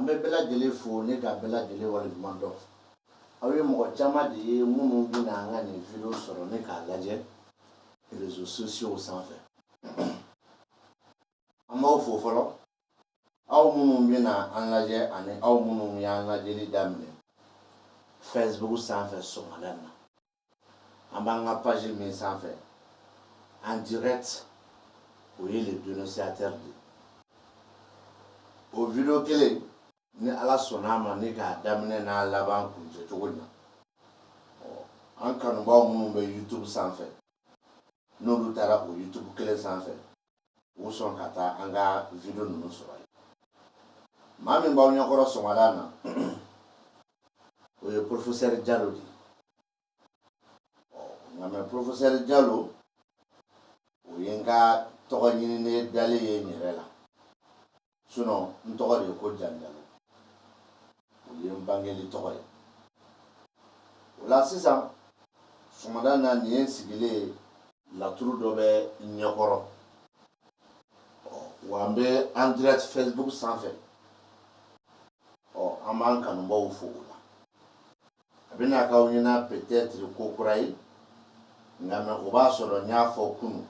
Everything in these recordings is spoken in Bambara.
An bɛ bɛɛ lajɛlen fo ni ka bɛɛ lajɛlen wale ɲuman dɔn aw ye mɔgɔ caman de ye minnu bɛna an ka nin video sɔrɔ ni k'a lajɛ réseaux sociaux sanfɛ an b'aw fo fɔlɔ aw minnu bɛna an lajɛ ani aw minnu y'an lajɛli daminɛ facebook sanfɛ sɔgɔmada na an b'an ka page min sanfɛ en direct o ye le dénonciateur de o video kelen ni ala sɔnna ma ni k'a daminɛ n'a laban kuncɛ cogo na an kanubaaw minnu bɛ youtube sanfɛ n'olu taara o youtube kelen sanfɛ u sɔn ka taa an ka video ninnu sɔrɔ yen maa min b'aw ɲɛkɔrɔ sɔgɔmada na o ye professeur Jalo de nka mais professeur Jalo o ye n ka tɔgɔ ɲininen dalen ye n yɛrɛ la n tɔgɔ de ye ko Janjalo. O ye n bangeli tɔgɔ ye. O la sisan, sɔgɔmada na nin ye n sigilen ye. Laturu dɔ bɛ n ɲɛkɔrɔ. Ɔ, wa n bɛ en direct Facebook sanfɛ. Ɔ, an b'an kanubaaw fo o la. A bɛna k'aw ɲɛna peut-être ko kura ye, nka mais o b'a sɔrɔ n y'a fɔ kunun.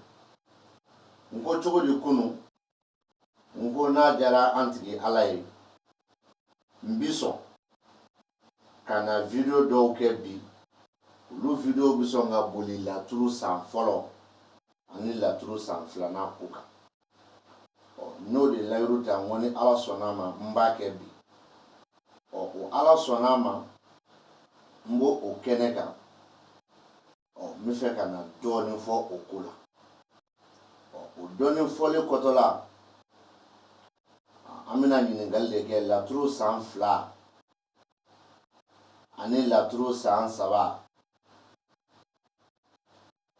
N ko cogo di kunun? n ko n'a diyara an tigi ala ye n bi sɔn ka na video dɔw kɛ bi olu video bi sɔn ka boli laturu san fɔlɔ ani laturu san filanan ko kan ɔ n'o de layiru ta n ko ni ala sɔnna ma n b'a kɛ bi ɔ o ala sɔnna ma n b'o o kɛnɛ kan ɔ n bɛ fɛ ka na dɔɔnin fɔ o ko la ɔ o dɔɔnin fɔlen kɔtɔ la an bɛna ɲininkali de kɛ laturu san fila ani laturu san saba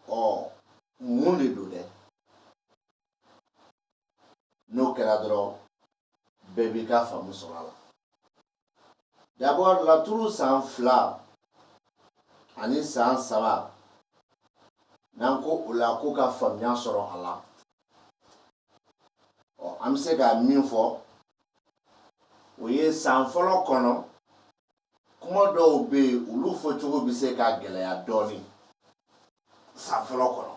ɔ mun de don dɛ n'o kɛra dɔrɔn bɛɛ b'i ka faamu sɔrɔ a la d'abord laturu san fila ani san saba n'an ko o la ko ka faamuya sɔrɔ a la ɔ an bɛ se ka min fɔ o ye san fɔlɔ kɔnɔ kuma dɔw bɛ yen olu fɔcogo bɛ se ka gɛlɛya dɔɔnin san fɔlɔ kɔnɔ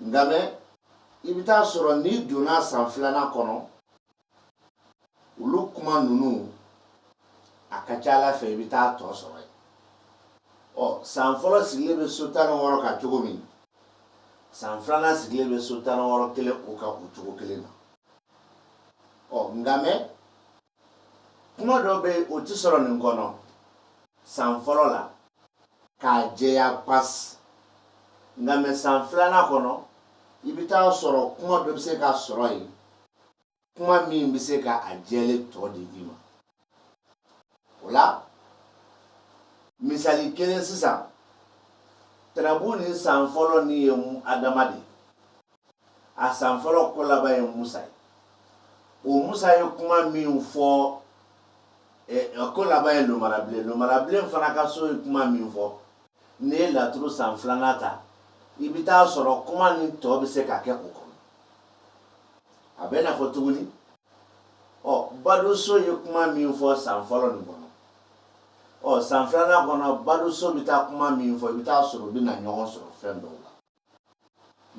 nka mais i bɛ t'a sɔrɔ n'i donna san filanan kɔnɔ olu kuma ninnu a ka ca a la fɛ i bɛ t'a tɔ sɔrɔ yen ɔ san fɔlɔ sigilen bɛ so tan ni wɔɔrɔ kan cogo min san filanan sigilen bɛ so tan ni wɔɔrɔ kelen o kan o cogo kelen na ɔ nka mɛ kuma dɔ bɛ o tɛ sɔrɔ nin kɔnɔ san fɔlɔ la k'a jɛya pasi nka mɛ san filanan kɔnɔ i bɛ t'a sɔrɔ kuma dɔ bɛ se ka sɔrɔ yen kuma min bɛ se ka a jɛlen tɔ di i ma o la misali kelen sisan turabu nin san fɔlɔ nin ye adama de a san fɔlɔ ko laban ye musa ye o musa ye kuma min fɔ eh, ko laban ye lomara bilen lomara bilen fana ka so ye kuma min fɔ n'i ye laturu san filanan ta i bɛ t'a sɔrɔ kuma nin tɔ bɛ se ka kɛ o kɔnɔ a bɛ n'a fɔ tuguni ɔ badenso ye kuma min fɔ san fɔlɔ nin kɔnɔ ɔ san filanan kɔnɔ badenso bɛ taa kuma min fɔ i bɛ t'a sɔrɔ u bɛ na ɲɔgɔn sɔrɔ fɛn dɔw la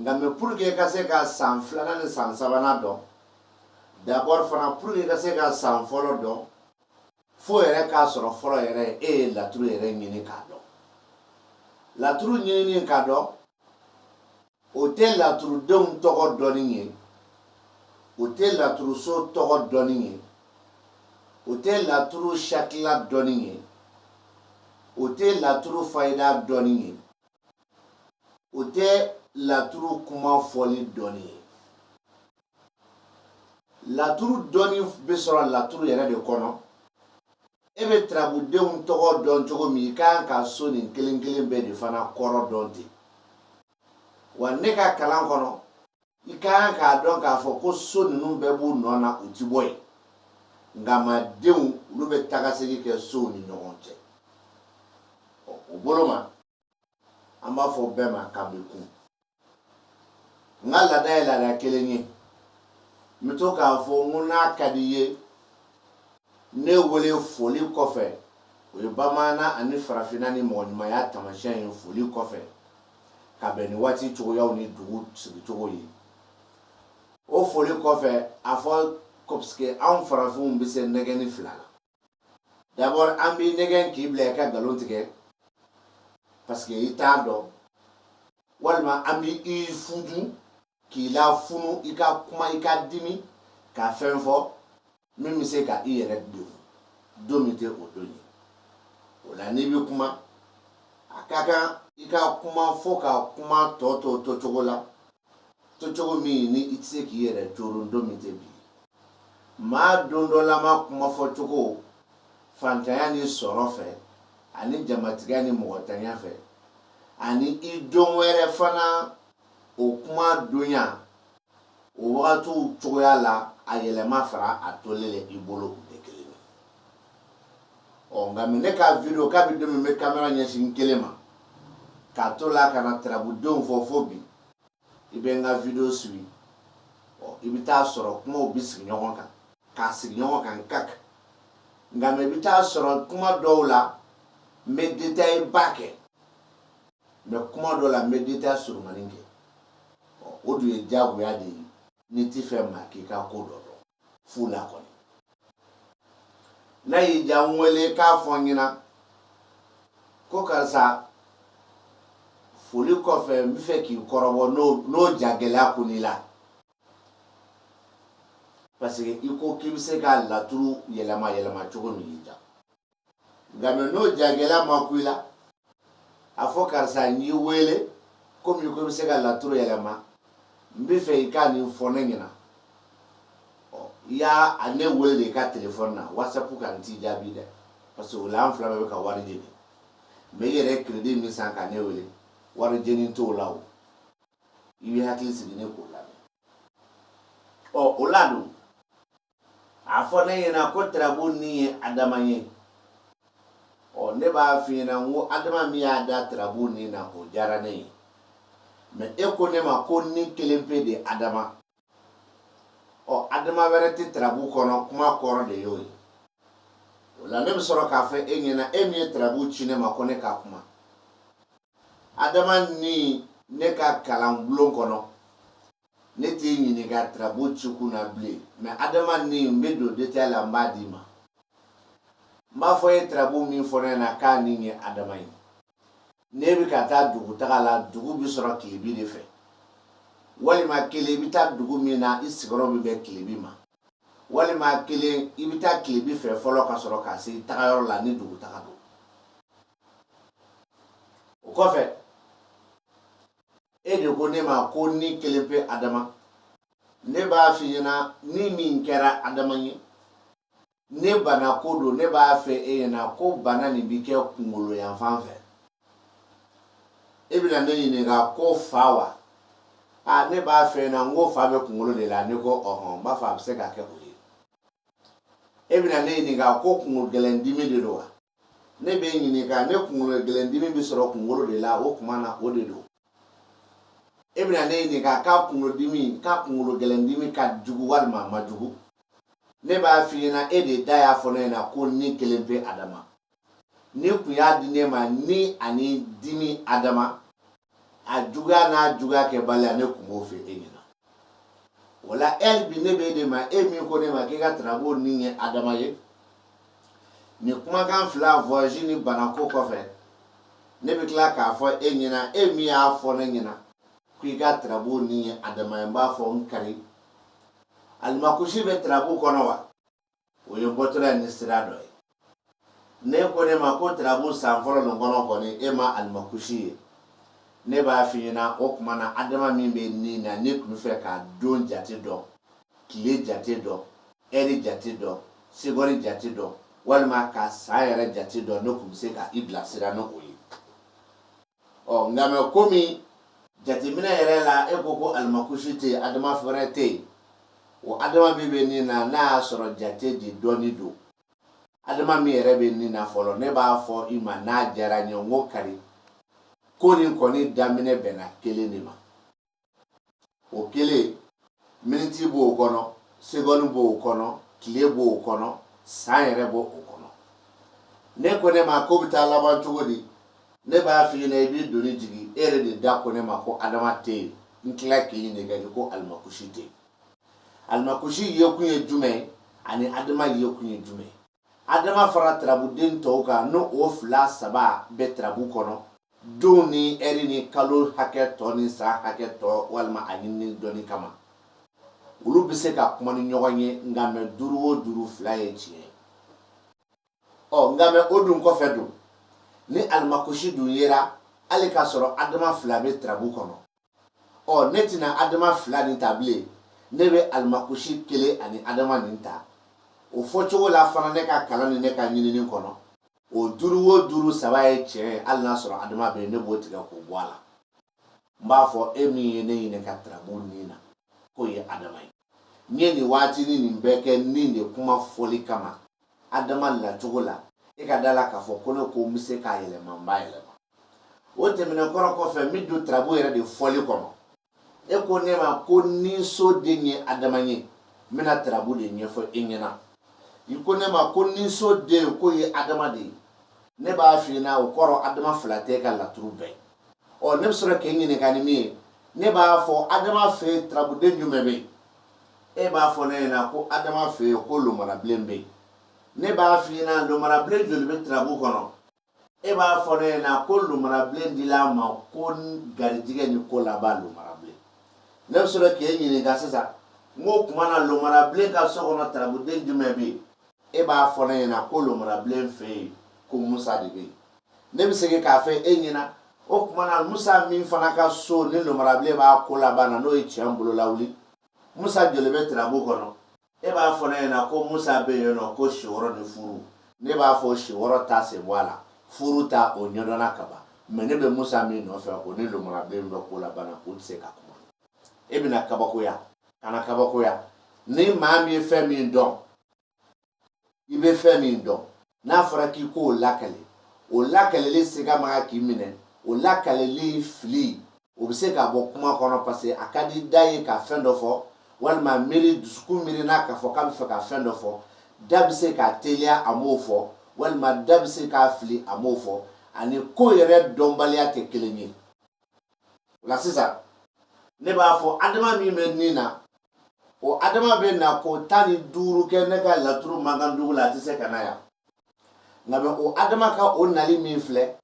nka mɛ pour que ka se ka san filanan ni san sabanan dɔn d'abord fana pour que ka se ka san fɔlɔ dɔn fo yɛrɛ k'a sɔrɔ fɔlɔ yɛrɛ e ye laturu yɛrɛ ɲini k'a dɔn laturu ɲinini k'a dɔn o tɛ laturudenw tɔgɔ dɔnni ye o tɛ laturuso tɔgɔ dɔnni ye o tɛ laturu sakila dɔnni ye o tɛ laturu fayida dɔnni ye o tɛ laturu kuma fɔli dɔnni ye laturu dɔnni bɛ sɔrɔ laturu yɛrɛ de kɔnɔ e bɛ turabudenw tɔgɔ dɔn cogo min i kan ka so nin kelen kelen bɛɛ de fana kɔrɔ dɔn ten wa ne ka kalan kɔnɔ i ka kan k'a dɔn k'a fɔ ko so ninnu bɛɛ b'u nɔ na u ti bɔ yen nka mɛ denw olu bɛ tagasegi kɛ sow ni ɲɔgɔn cɛ ɔ o bolo ma an b'a fɔ bɛɛ ma k'an bɛ kun n ka laada ye laada kelen ye n bɛ to k'a fɔ n ko n'a ka di i ye ne wele foli kɔfɛ o ye bamanan ani farafinna ni mɔgɔɲumanya taamasiyɛn ye foli kɔfɛ ka bɛn ni waati cogoyaw ni dugu sigicogo ye o foli kɔfɛ a fɔ ko parce que anw farafinw bɛ se nɛgɛnni fila la d'abord an b'i nɛgɛn k'i bila i ka nkalon tigɛ parce que i t'a dɔn walima an bɛ i fudu k'i la funu i ka kuma i ka dimi ka fɛn fɔ min bɛ se ka i yɛrɛ degun don min tɛ o don ye o la n'i bɛ kuma a ka kan i ka kuma fɔ ka kuma tɔ to to cogo la to cogo min ni i tɛ se k'i yɛrɛ coron don min tɛ bi ye maa don dɔ la maa kuma fɔ cogo fantanya ni sɔrɔ fɛ ani jamatigiya ni mɔgɔtanya fɛ ani i don wɛrɛ fana o kuma donya o wagatiw cogoya la a yɛlɛma fara a tolen la i bolo u tɛ kelen ye ɔ nka mɛ ne ka video kabi don min bɛ kamera ɲɛsin kelen ma k'a to la ka na tarabudenw fɔ fo bi i bɛ n ka video suivi ɔ i bɛ t'a sɔrɔ kumaw bɛ sigi ɲɔgɔn kan k'a sigi ɲɔgɔn kan kak nka mɛ i bɛ t'a sɔrɔ kuma dɔw la n bɛ détail ba kɛ mɛ kuma dɔ la n bɛ détail surunmani kɛ o dun ye diyagoya de ye n'i tɛ fɛ maa k'i ka ko dɔ dɔn fu la kɔni n'a y'i diya n wele k'a fɔ n ɲɛna ko karisa foli kɔfɛ n bɛ fɛ k'i kɔrɔbɔ n'o jagɛlɛya kunn'i la parce que i ko k'i bɛ se ka laturu yɛlɛma yɛlɛma cogo min y'i diya nka mɛ n'o jagɛlɛya ma kun i la a fɔ karisa n y'i wele komi i ko i bɛ se ka laturu yɛlɛma n bɛ fɛ i ka nin fɔ ne ɲɛna i y'a a ne wele de i ka telefɔni na wasapu kan n t'i jaabi dɛ parce que o la an fila bɛɛ bɛ ka wari jeni mɛ i yɛrɛ crédit min san ka ne wele wari jeni t'o la o i bɛ hakili sigi ne k'o lamɛn ɔ o la dun a fɔ ne ɲɛna ko tirabu nin ye adama ye ɔ ne b'a f'i ɲɛna n ko adama min y'a da tirabu nin na o diyara ne ye mɛ e ko ne ma ko nin kelen pe de adama ɔ adama wɛrɛ tɛ tirabu kɔnɔ kuma kɔrɔ de y'o ye o la ne bɛ sɔrɔ k'a fɔ e ɲɛna e min ye tirabu ci ne ma ko ne ka kuma adama nin ne ka kalan bulon kɔnɔ Ne t'i ɲininka tirabu cikun na bilen mɛ adama nin n bɛ don détail la n b'a d'i ma n b'a fɔ e ye tirabu min fɔ ne ɲɛna k'a nin ye adama ye n'i bɛ ka taa dugu taga la dugu bɛ sɔrɔ tilebin de fɛ walima kelen i bɛ taa dugu min na i sigiyɔrɔ bɛ bɛn tilebin ma walima kelen i bɛ taa tilebin fɛ fɔlɔ ka sɔrɔ ka se i tagayɔrɔ la ni dugu taga don o kɔfɛ e de ko ne ma ko nin kelen pe adama ne b'a f'i ɲɛna ni min kɛra adama ye ni bana ko don ne b'a f'e ɲɛna ko bana nin bi kɛ kungolo yanfan fɛ e bɛna ne ɲininka ko fa wa a ne b'a f'e ɲɛna n ko fa bɛ kungolo de la n'e ko ɔhɔn n b'a fɔ a bɛ se ka kɛ o ye e bɛna ne ɲininka ko kungolo gɛlɛn dimi de don wa ne b'e ɲininka ne kunkolo gɛlɛndimi bɛ sɔrɔ kunkolo de la o tuma na o de don e bɛna ne ɲininka k'a kunkolodimi k'a kunkolo gɛlɛndimi ka jugu walima a ma jugu ne b'a f'i ɲɛna e de da y'a fɔ ne ɲɛna ko nin kelen pe adama n'i kun y'a di ne ma nin ani dimi adama a juguya n'a juguya kɛbaliya ne kun b'o f'e ɲɛna o la e bi ne bɛ de ma e min ko ne ma k'i ka tarabu nin ye adama ye nin kumakan fila voyage ni banako kɔfɛ ne bɛ tila k'a fɔ e ɲɛna e min y'a fɔ ne ɲɛna k'i ka tarabu nin ye adama ye n b'a fɔ n kari alimakusi bɛ tarabu kɔnɔ wa o ye bɔtɔla ye ni sira dɔ ye n'e ko ne ma ko tarabu san fɔlɔ nin kɔnɔ kɔni e ma alimakusi ye ne b'a f'i ɲɛna o tuma na adama min bɛ nin na n'e tun b'a fɛ ka don jate dɔn tile jate dɔn ɛri jate dɔn segɔni jate dɔn walima ka san yɛrɛ jate dɔn ne tun bɛ se ka i bilasira n'o ye ɔ nka mɛ komi jateminɛ yɛrɛ la e ko ko alimakusi tɛ yen adama fɛrɛ tɛ yen o adama min bɛ nin na n'a y'a sɔrɔ jate de dɔnni don adama min yɛrɛ bɛ nin na fɔlɔ ne b'a fɔ i ma n'a diyara n ye n ko kari ko nin kɔni daminɛ bɛnna kelen de ma o kelen miniti b'o kɔnɔ segɔni b'o kɔnɔ tile b'o kɔnɔ san yɛrɛ b'o o kɔnɔ n'e ko ne ma k'o bɛ taa laban cogo di ne b'a f'i ɲɛna i b'i doni jigin e yɛrɛ de da ko ne ma ko adama tɛ yen n tila k'i ɲininka n'i ko alimakusi tɛ yen alimakusi yekun ye jumɛn ye ani adama yekun ye jumɛn ye adama fara tarabuden tɔw kan n'o o fila saba bɛ tarabu kɔnɔ don ni ɛri ni kalo hakɛ tɔ ni san hakɛ tɔ walima a ɲinini dɔnni kama olu bɛ se ka kuma ni ɲɔgɔn ye nka mɛ duuru o duuru fila ye tiɲɛ ye ɔ nka mɛ o dun kɔfɛ dun ni alimakusi dun yera hali k'a sɔrɔ adama fila bɛ tarabu kɔnɔ ɔ ne tɛna adama fila nin ta bilen ne bɛ alimakusi kelen ani adama nin ta o fɔcogo la fana ne ka kalan ni ne ka ɲinini kɔnɔ o duuru o duuru saba ye tiɲɛ ye hali n'a sɔrɔ adama bɛ yen ne b'o tigɛ k'o bɔ a la n b'a fɔ e min ye ne ɲininka tarabu nin na k'o ye adama ye n ye nin waatini nin bɛɛ kɛ nin de kuma fɔli kama Adama lacogo la, e ka da la k'a fɔ ko ne ko n bɛ se k'a yɛlɛma n b'a yɛlɛma. O tɛmɛnen kɔrɔ kɔfɛ n bɛ don tarabu yɛrɛ de fɔli kɔnɔ. E ko ne ma ko nin so den ye Adama ye, n bɛna tarabu de ɲɛfɔ i ɲɛna. I ko ne ma ko nin so den k'o ye Adama de ye, ne b'a f'i ɲɛna o kɔrɔ Adama fila tɛ e ka laturu bɛɛ ye. ɔ ne bɛ sɔrɔ k'e ɲininka ni min ye ne b'a fɔ adama fɛ yen turabuden jumɛn bɛ yen e b'a fɔ ne ɲɛna ko adama fɛ yen ko lomarabilen bɛ yen ne b'a f'i ɲɛna lomarabilen joli bɛ turabu kɔnɔ e b'a fɔ ne ɲɛna ko lomarabilen dila a ma ko garijigɛ ni ko laban lomarabilen ne bɛ sɔrɔ k'e ɲininka sisan n k'o tuma na lomarabilen ka so kɔnɔ turabuden jumɛn bɛ yen e b'a fɔ ne ɲɛna ko lomarabilen fɛ yen ko musa de bɛ yen ne bɛ segin k'a fɔ e ɲɛna o tuma na musa min fana ka so ni lomarabilen b'a ko laban na n'o ye tiɲɛ bolo lawuli musa joli bɛ tirabu kɔnɔ e b'a fɔ ne ɲɛna ko musa bɛ yen nɔ ko si wɔɔrɔ ni furu ne b'a fɔ si wɔɔrɔ ta sen bɔ a la furu ta o ɲɛdɔnna ka ban mɛ ne bɛ musa min nɔfɛ o ni lomarabilen bɛ ko laban na o tɛ se ka kuma e bɛna kabakoya kana kabakoya ni maa min ye fɛn min dɔn i bɛ fɛn min dɔn n'a fɔra k'i k'o lakale o lakaleli siga ma k'i minɛ o lakaleli fili o bɛ se ka bɔ kuma kɔnɔ parce que a ka di da ye ka fɛn dɔ fɔ walima miiri dusukun miirina k'a fɔ k'a bɛ fɛ ka fɛn dɔ fɔ da bɛ se ka teliya a m'o fɔ walima da bɛ se ka fili a m'o fɔ ani ko yɛrɛ dɔnbaliya tɛ kelen ye o la sisan ne b'a fɔ adama min bɛ ni na o adama bɛ na ko tan ni duuru kɛ ne ka laturu mankan dugu la a tɛ se ka na yan nka mɛ o adama ka o nali min filɛ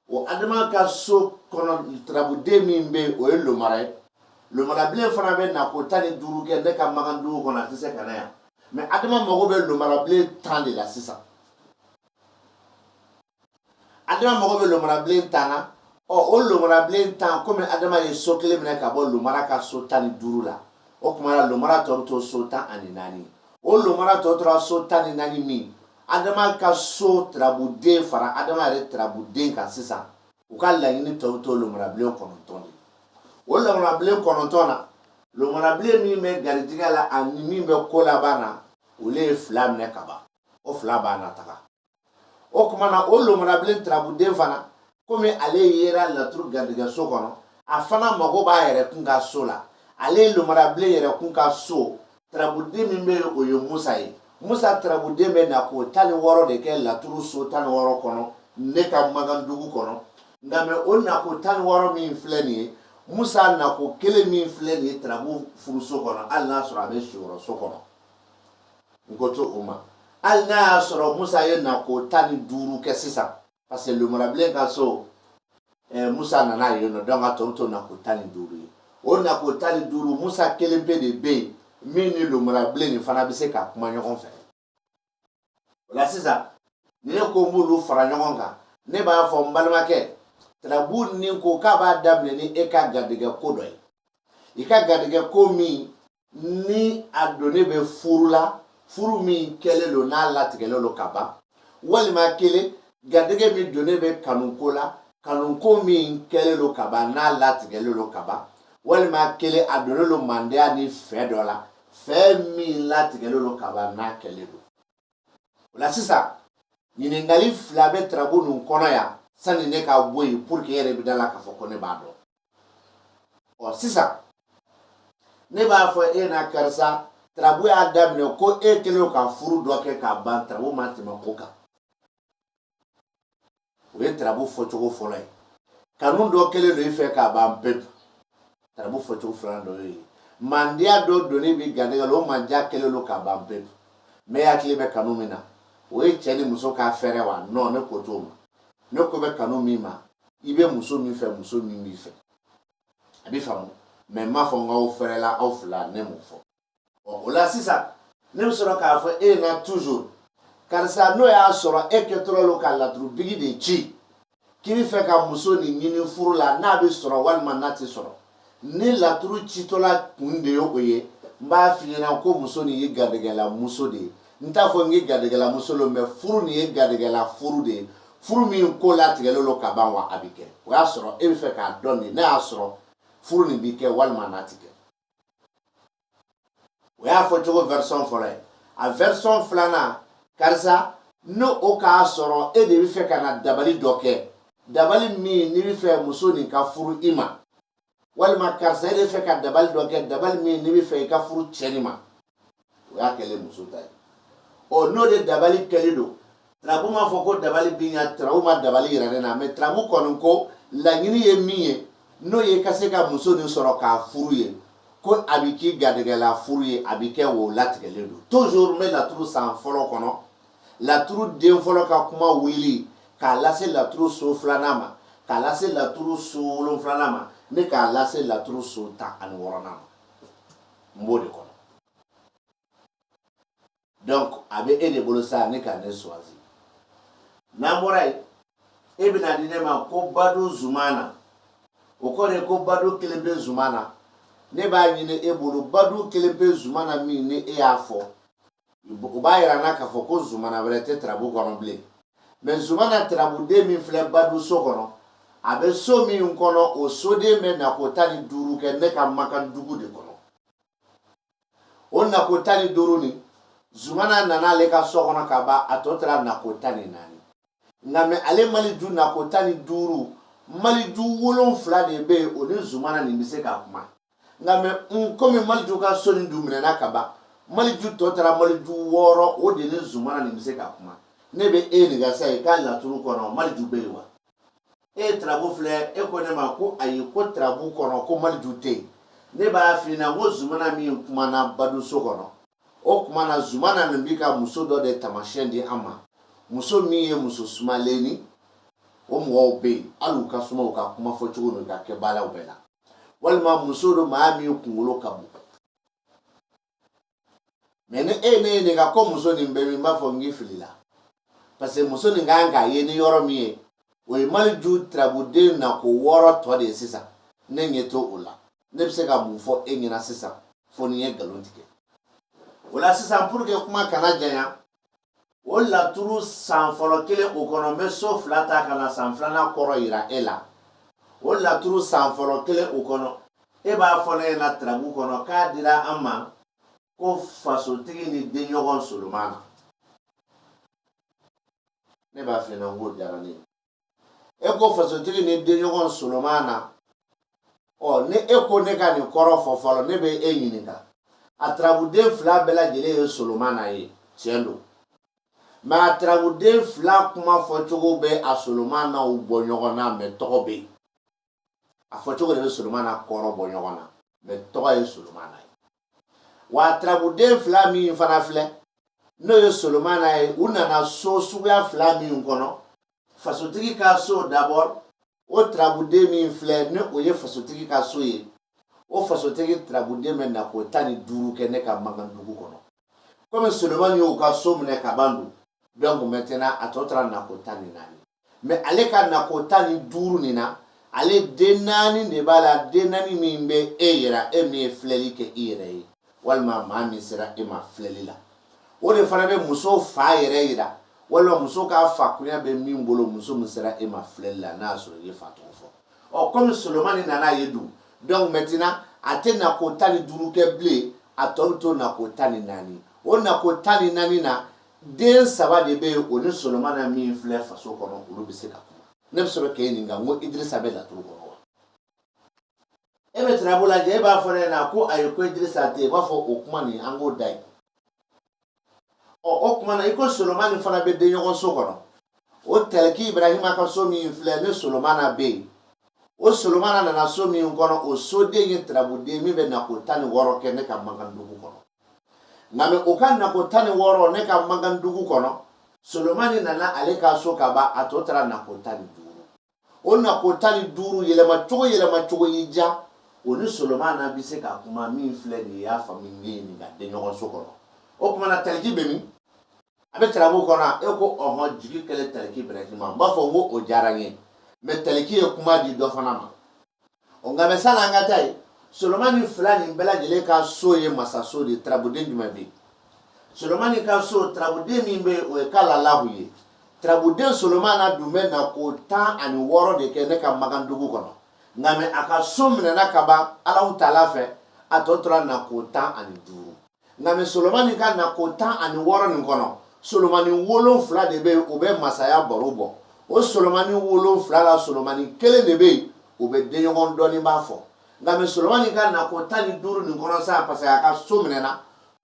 o adama ka so kɔnɔ tarabuden min bɛ o ye lomara ye lomarabilen fana bɛ na ko tan ni duuru kɛ ne ka mankan dugu kɔnɔ a tɛ se ka na yan mɛ adama mago bɛ lomarabilen tan de la sisan adama mago bɛ lomarabilen tan na ɔ o lomarabilen tan komi adama ye so kelen minɛ ka bɔ lomara ka so tan ni duuru la o tuma na lomara tɔ bɛ to so tan ani naani o lomara tɔ tora so tan ni naani min adama ka so tirabuden fara adama yɛrɛ tirabuden kan sisan u ka laɲini tɔ bɛ to lomarabilen kɔnɔntɔn de o lomarabilen kɔnɔntɔn na lomarabilen min bɛ garijigɛ la ani min bɛ ko laban na olu ye fila minɛ ka ban o fila b'a nataga o tuma na o lomarabilen turabuden fana komi ale yera laturu garijɛgɛso kɔnɔ a fana mago b'a yɛrɛ kun ka so la ale ye lomarabilen yɛrɛ kun ka so turabuden min bɛ yen o ye musa ye musa turabuden bɛ nako tan ni wɔɔrɔ de kɛ laturu so tan ni wɔɔrɔ kɔnɔ ne ka magan dugu kɔnɔ nka mais o nako tan ni wɔɔrɔ min filɛ nin ye musa nako kelen min filɛ nin ye turabu furuso kɔnɔ hali n'a sɔrɔ a bɛ siyɔrɔso kɔnɔ n ko t'o ma hali n'a y'a sɔrɔ musa ye nako tan ni duuru kɛ sisan parce que lomarabilen ka so eh, musa nana yen nɔ donc a tɔ bɛ to nako tan ni duuru ye o nako tan ni duuru musa kelen pe de bɛ yen min ni lomarabilen nin fana bɛ se ka kuma ɲɔgɔn fɛ o la sisan ni ne ko n b'olu fara ɲɔgɔn kan ne b'a fɔ n balimakɛ tarabu nin ko k'a b'a daminɛ ni e ka garijɛgɛ ko dɔ ye i ka garijɛgɛ ko min ni a donnen bɛ furu la furu min kɛlen lo n'a latigɛlen lo ka ban walima kelen garijɛgɛ min donnen bɛ kanuko la kanuko min kɛlen lo ka ban n'a latigɛlen lo ka ban walima kelen a donnen lo mandiya ni fɛ dɔ la fɛ min latigɛlen lo ka ban n'a kɛlen lo o la sisan ɲininkali fila bɛ tarabu ninnu kɔnɔ yan sani ne ka bɔ yen pour que e yɛrɛ bɛ da la k'a fɔ ko ne b'a dɔn ɔ sisan ne b'a fɔ e na karisa tarabu y'a daminɛ ko e kɛlen ka furu dɔ kɛ ka ban tarabu ma tɛmɛ ko kan o ye tarabu fɔcogo fɔlɔ ye kanu dɔ kɛlen lo i fɛ ka ban pewu tarabu fɔcogo filanan dɔ ye mandiya dɔ donnen b'i garijɛgɛ la o mandiya kɛlen lo ka ban pewu mais hakili bɛ kanu min na o ye cɛ ni muso ka fɛɛrɛ wa non ne ko t'o ma ne ko bɛ kanu min ma i bɛ muso min fɛ muso min b'i fɛ a b'i faamu mais n m'a fɔ n k'aw fɛrɛla aw fila ne m'o fɔ ɔ o la sisan ne bɛ sɔrɔ k'a fɔ e na toujours karisa n'o y'a sɔrɔ e kɛtɔla lo ka laturu bigi de ci k'i bɛ fɛ ka muso nin ɲini furu la n'a bɛ sɔrɔ walima n'a tɛ sɔrɔ ni laturu citɔla kun de ye o ye n b'a f'i ɲɛna ko muso nin ye garijɛgɛla muso de ye n t'a fɔ n k'e garijɛgɛla muso lo mais furu nin ye garijɛgɛla furu de ye furu min ko latigɛlen lo ka ban wa a bɛ kɛ o y'a sɔrɔ e bɛ fɛ k'a dɔn de n'a y'a sɔrɔ furu nin bɛ kɛ walima n'a tɛ kɛ o y'a fɔcogo version fɔlɔ ye a version filanan karisa n'o o k'a sɔrɔ e de bɛ fɛ ka na dabali dɔ kɛ dabali min n'i bɛ fɛ muso nin ka furu i ma walima karisa e de bɛ fɛ ka dabali dɔ kɛ dabali min n'i bɛ fɛ i ka furu cɛ nin ma o y'a kɛlen muso ta ye ɔ n'o de dabali kɛlen don tarabu m'a fɔ ko dabali bɛ ɲa tarabu ma dabali yira ne na mɛ tarabu kɔni ko laɲini ye min ye n'o ye ka se ka muso nin sɔrɔ k'a furu ye ko a bɛ k'i garijɛgɛla furu ye a bɛ kɛ wo latigɛlen don toujours n bɛ laturu san fɔlɔ kɔnɔ laturu den fɔlɔ ka kuma wuli k'a lase laturu so filanan ma k'a lase laturu so wolonfilanan ma ne k'a lase laturu so tan ani wɔɔrɔnan ma n b'o de kɔnɔ donc a bɛ e de bolo sa ne ka ne choisi n'an bɔra yen e bɛna di ne ma ko badu zumana o kɔrɔ ye ko badu kelenpe zumana ne b'a ɲini e bolo badu kelenpe zumana min ni e y'a fɔ o b'a yira n na k'a fɔ ko zumana wɛrɛ tɛ tarabu kɔnɔ bilen mɛ zumana tarabuden min filɛ badu so kɔnɔ a bɛ so min kɔnɔ o soden bɛ nako tan ni duuru kɛ ne ka makan dugu de kɔnɔ o nako tan ni duuru nin zumana nana ale ka so kɔnɔ ka ban a tɔ tora nako tan ni naani nka mɛ ale maliju nako tan ni duuru maliju wolonfila de bɛ yen o ni zumana nin bɛ se ka kuma nka mɛ n komi maliju ka so nin dun minɛna ka ban maliju tɔ tora maliju wɔɔrɔ o de ni zumana nin bɛ se ka kuma ne bɛ e ɲininka sa i ka laturu kɔnɔ maliju bɛ yen wa e ye tarabu filɛ e ko ne ma ko ayi ko tarabu kɔnɔ ko maliju tɛ yen ne b'a f'i ɲɛna ko zumana min kumana badu so kɔnɔ o kumana zumana nin bɛ ka muso dɔ de taamasiyɛn di an ma muso min ye muso sumalennin o mɔgɔw bɛ yen hali u ka suma u ka kuma fɔcogo n'u ka kɛbaaraw bɛɛ la walima muso don maa min kunkolo ka bon mɛ ni e ye ne ɲininka ko muso nin bɛ min n b'a fɔ n k'i filila parce que muso nin kan ka ye ni yɔrɔ min ye o ye maliju tarabuden nako wɔɔrɔ tɔ de ye sisan ne ɲɛ to o la ne bɛ se ka mun fɔ e ɲɛna sisan fo ni n ye nkalon tigɛ o la sisan pour que kuma kana janya o laturu san fɔlɔ kelen o kɔnɔ n bɛ so fila ta ka na san filanan kɔrɔ yira e la o laturu san fɔlɔ kelen o kɔnɔ e b'a fɔ ne ɲɛna tarabu kɔnɔ k'a dira an ma ko fasotigi ni denɲɔgɔn solomana ne b'a f'i ɲɛna n k'o diyara ne ye e ko fasotigi ni denɲɔgɔn solomana ɔ ni e ko ne ka nin kɔrɔ fɔ fɔlɔ ne bɛ e ɲininka a tarabuden fila bɛɛ lajɛlen ye solomana ye tiɲɛ don mɛ a tarabuden fila kuma fɔcogo bɛ a solomanaw bɔ ɲɔgɔn na mɛ tɔgɔ bɛ yen a fɔ cogo de bɛ solomana kɔrɔ bɔ ɲɔgɔn na mɛ tɔgɔ ye solomana ye wa turabuden fila min fana filɛ n'o ye solomana ye u nana so suguya fila min kɔnɔ fasotigi ka so d'abord o turabuden min filɛ ni o ye fasotigi ka so ye o fasotigi turabuden bɛ nako tan ni duuru kɛ ne ka magan dugu kɔnɔ komi solomani y'u ka so minɛ ka ban dun donc maintenant a tɔ tora nako tan ni naani mɛ ale ka nako tan ni duuru nin na ale den naani de b'a la den naani min bɛ e yira e min ye filɛli kɛ i yɛrɛ ye walima maa min sera e ma filɛli la o de fana bɛ muso fa yɛrɛ yira walima muso ka fakunya bɛ min bolo muso min sera e ma filɛli la n'a y'a sɔrɔ i ye fa tɔgɔ fɔ ɔ kɔmi solomani nana ye dun donc maintenant a tɛ nako tan ni duuru kɛ bilen a tɔ bɛ to nako tan ni naani o nako tan ni naani na den saba de bɛ yen o ni solomana min filɛ faso kɔnɔ olu bɛ se ka kuma ne bɛ sɔrɔ k'e ɲininka n ko idirisa bɛ laturu kɔnɔ wa e bɛ tarabu lajɛ e b'a fɔ ne ɲɛna ko ayi ko idirisa tɛ yen i b'a fɔ o kuma nin an k'o da yen ɔ o kuma na i ko solomani fana bɛ den ɲɔgɔn so kɔnɔ o tɛlɛki ibrahima ka so min filɛ ne solomana bɛ yen o solomana nana so min kɔnɔ o soden ye tarabuden min bɛ nako tan ni wɔɔrɔ kɛ ne ka magan dugu kɔnɔ nka mɛ o ka nako tan ni wɔɔrɔ ne ka magan dugu kɔnɔ solomani nana ale ka so ka ban a tɔ tora nako tan ni duuru o nako tan ni duuru yɛlɛma cogo yɛlɛma cogo y'i diya o ni solomana bɛ se ka kuma min filɛ nin ye y'a faamu ne y'e ɲininka den ɲɔgɔn so kɔnɔ o kuma na taliki bɛ min a bɛ tarabu kɔnɔ e ko ɔhɔn jigi kelen taliki ibrahima n b'a fɔ n ko o diyara n ye mɛ taliki ye kuma di dɔ fana ma o nka mɛ sani an ka taa yen solomani fila nin bɛɛ lajɛlen ka so ye masaso de ye tarabuden jumɛn bɛ yen solomani ka so tarabuden min bɛ yen o ye kalalahu ye tarabuden solomana dun bɛ nako tan ani wɔɔrɔ de kɛ ne ka magan dugu kɔnɔ nka mɛ a ka so minɛna ka ban alaw taala fɛ a tɔ tora nako tan ani duuru nka mɛ solomani ka nako tan ani wɔɔrɔ nin kɔnɔ solomani wolonfila de bɛ yen u bɛ masaya baro bɔ o solomani wolonfila la solomani kelen de bɛ yen o bɛ denɲɔgɔn dɔnnibaa fɔ nka mɛ solomani ka nako tan ni duuru nin kɔnɔ sa parce que a ka so minɛna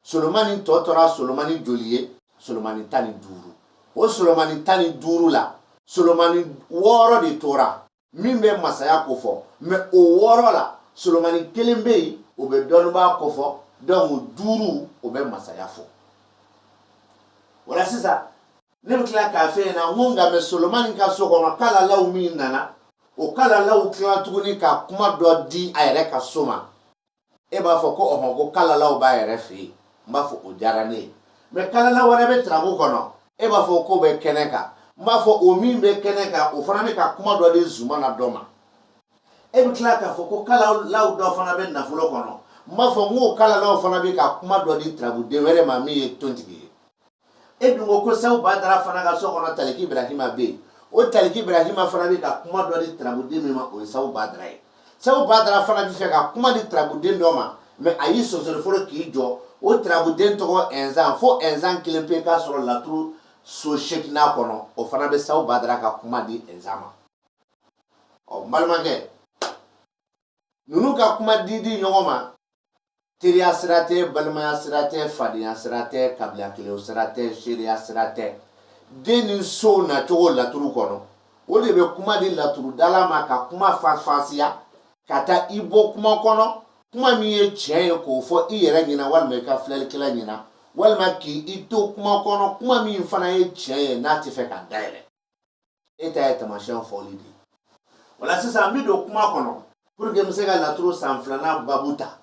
solomani tɔ tora solomani joli ye solomani tan ni duuru o solomani tan ni duuru la solomani wɔɔrɔ de tora min bɛ masaya ko fɔ mɛ o wɔɔrɔ la solomani kelen bɛ yen o bɛ dɔnnibaa ko fɔ donc duuru o bɛ masaya fɔ voilà sisan ne bɛ tila k'a f'e ɲɛna n ko nka mɛ solomani ka so kɔnɔ kalalaw min nana o kalalaw tila tuguni ka kuma dɔ di a yɛrɛ ka so ma e b'a fɔ ko ɔhɔn ko kalalaw b'a yɛrɛ fɛ yen n b'a fɔ o diyara ne ye mɛ kalalaw wɛrɛ bɛ tarabu kɔnɔ e b'a fɔ k'o bɛ kɛnɛ kan n b'a fɔ o min bɛ kɛnɛ kan o fana bɛ ka kuma dɔ di zumana dɔ ma e bɛ tila k'a fɔ ko kalalaw dɔ fana bɛ nafolo kɔnɔ n b'a fɔ n k'o kalalaw fana bɛ ka kuma dɔ di tarabuden wɛrɛ ma min ye tontigi ye e dun ko ko Sabu Badara fana ka so kɔnɔ Taliki Ibrahima bɛ yen, o Taliki Ibrahima fana bɛ ka kuma dɔ di Tarabuden min ma, o ye Sabu Badara ye. Sabu Badara fana bɛ fɛ ka kuma di Tarabuden dɔ ma, mais a y'i sonsori fɔlɔ k'i jɔ, o Tarabuden tɔgɔ Ɛnzan, fo Ɛnzan kelen pe ka sɔrɔ laturu so seeginan kɔnɔ, o fana bɛ Sabu Badara ka kuma di Ɛnzan ma. Ɔ n balimakɛ, ninnu ka kuma di di ɲɔgɔn ma teriya sira tɛ balimaya sira tɛ fadenya sira tɛ kabila kelen sira tɛ seereya sira tɛ den ni sow nacogo laturu kɔnɔ o de bɛ kuma di laturudala ma ka kuma faranfasiya ka taa i bɔ kuma kɔnɔ kuma min ye tiɲɛ ye k'o fɔ i yɛrɛ ɲɛna walima i ka filɛlikɛla ɲɛna walima k'i i to kuma kɔnɔ kuma min fana ye tiɲɛ ye n'a tɛ fɛ ka dayɛlɛ e ta ye tamasiyɛn fɔli de ye o la sisan n bɛ don kuma kɔnɔ pour que n bɛ se ka laturu san filanan babu ta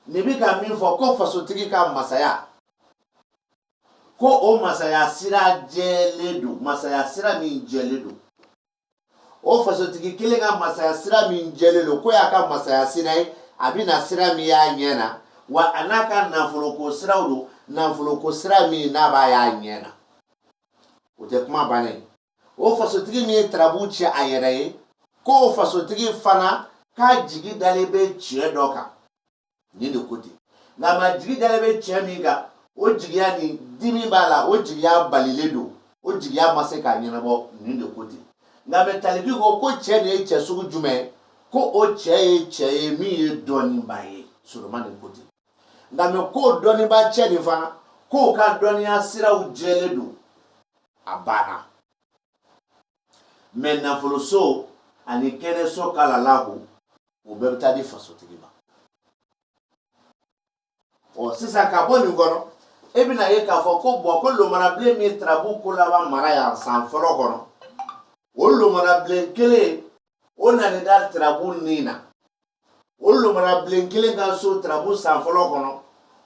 nin bɛ ka min fɔ ko fasotigi ka masaya ko o masaya sira jɛlen don masaya sira min jɛlen don o fasotigi kelen ka masaya sira min jɛlen don k'o y'a ka masaya sira ye a bɛ na sira min y'a ɲɛ na wa a n'a ka nafoloko siraw don nafoloko sira min n'a b'a y'a ɲɛ na o tɛ kuma bannen ye o fasotigi min ye tarabu cɛ a yɛrɛ ye k'o fasotigi fana k'a jigi dalen bɛ cɛ dɔ kan nin de ko ten nka m'a jigi dalen bɛ cɛ min kan o jigiya ni dimi b'a la o jigiya balilen don o jigiya ma se k'a ɲɛnabɔ nin de ko ten nka mɛ taliki ko k'o cɛ de ye cɛ sugu jumɛn ye ko o cɛ ye cɛ ye min ye dɔnnibaa ye solomani ko ten nka mɛ k'o dɔnnibaa cɛ de fana k'o ka dɔnniya siraw jɛlen don a banna mɛ nafoloso ani kɛnɛso kalalaw o bɛɛ bɛ taa di fasotigi ma ɔ sisan ka bɔ nin kɔnɔ e bɛn'a ye k'a fɔ ko bɔn ko lomarabilen min tarabu ko laban mara yan san fɔlɔ kɔnɔ o lomarabilen kelen o nana da tarabu nin na o lomarabilen kelen ka so tarabu san fɔlɔ kɔnɔ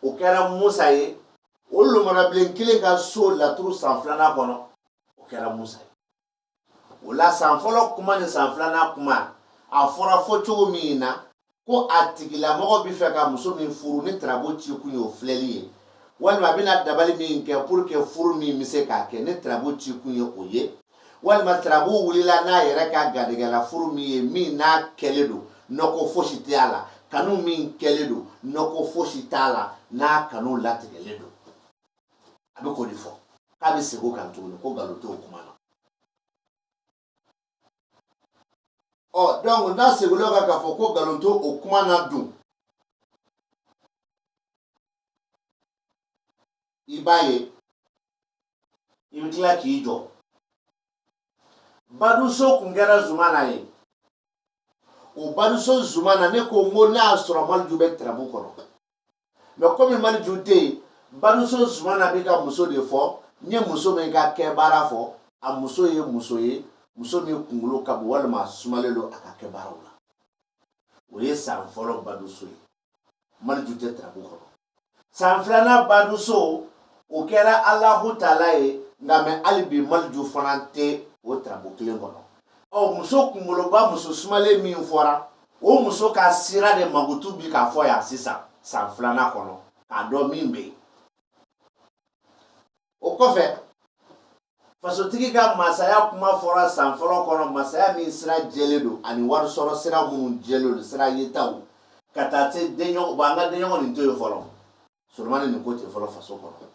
o kɛra musa ye o lomarabilen kelen ka so laturu san filanan kɔnɔ o kɛra musa ye o la san fɔlɔ kuma ni san filanan kuma a fɔra fɔ cogo min na ko a tigilamɔgɔ bɛ fɛ ka muso min furu ni tarabu ci kun ye o filɛli ye walima a bɛna dabali min kɛ pour que furu min bɛ se k'a kɛ ni tarabu ci kun ye o ye walima tarabu wulila n'a yɛrɛ ka garijɛgɛ la furu min ye min n'a kɛlen don nɔgɔ fosi tɛ a la kanu min kɛlen don nɔgɔ fosi t'a la n'a kanu latigɛlen don a bɛ k'o de fɔ k'a bɛ segin o kan tuguni ko nkalon t'o kuma na ɔ donc n'a seginna o kan k'a fɔ ko nkalon t'o o kuma na dun i b'a ye i bɛ tila k'i jɔ baduso tun kɛra zumana ye o baduso zumana ne ko n ko n'a y'a sɔrɔ maliju bɛ tarabu kɔnɔ mɛ kɔmi maliju tɛ yen baduso zumana bɛ ka muso de fɔ n ye muso min ka kɛ baara fɔ a muso ye muso ye muso min kunkolo ka bon walima sumalen don a ka kɛ baaraw la o ye san fɔlɔ baduso ye maliju tɛ tarabu kɔnɔ san filanan baduso o kɛra alahu taala ye nka mɛ hali bi maliju fana tɛ o tarabu kelen kɔnɔ ɔ muso kunkoloba muso sumalen min fɔra o muso ka sira de mankutu bi k'a fɔ yan sisan san filanan kɔnɔ k'a dɔn min bɛ yen o kɔfɛ fasotigi ka masaya kuma fɔra san fɔlɔ kɔnɔ masaya min sira jɛlen don ani wari sɔrɔ sira minnu jɛlen don sira yetaw ka taa se denɲɔgɔn ma an ka denɲɔgɔn nin to yen fɔlɔ solomani nin ko ten fɔlɔ faso kɔnɔ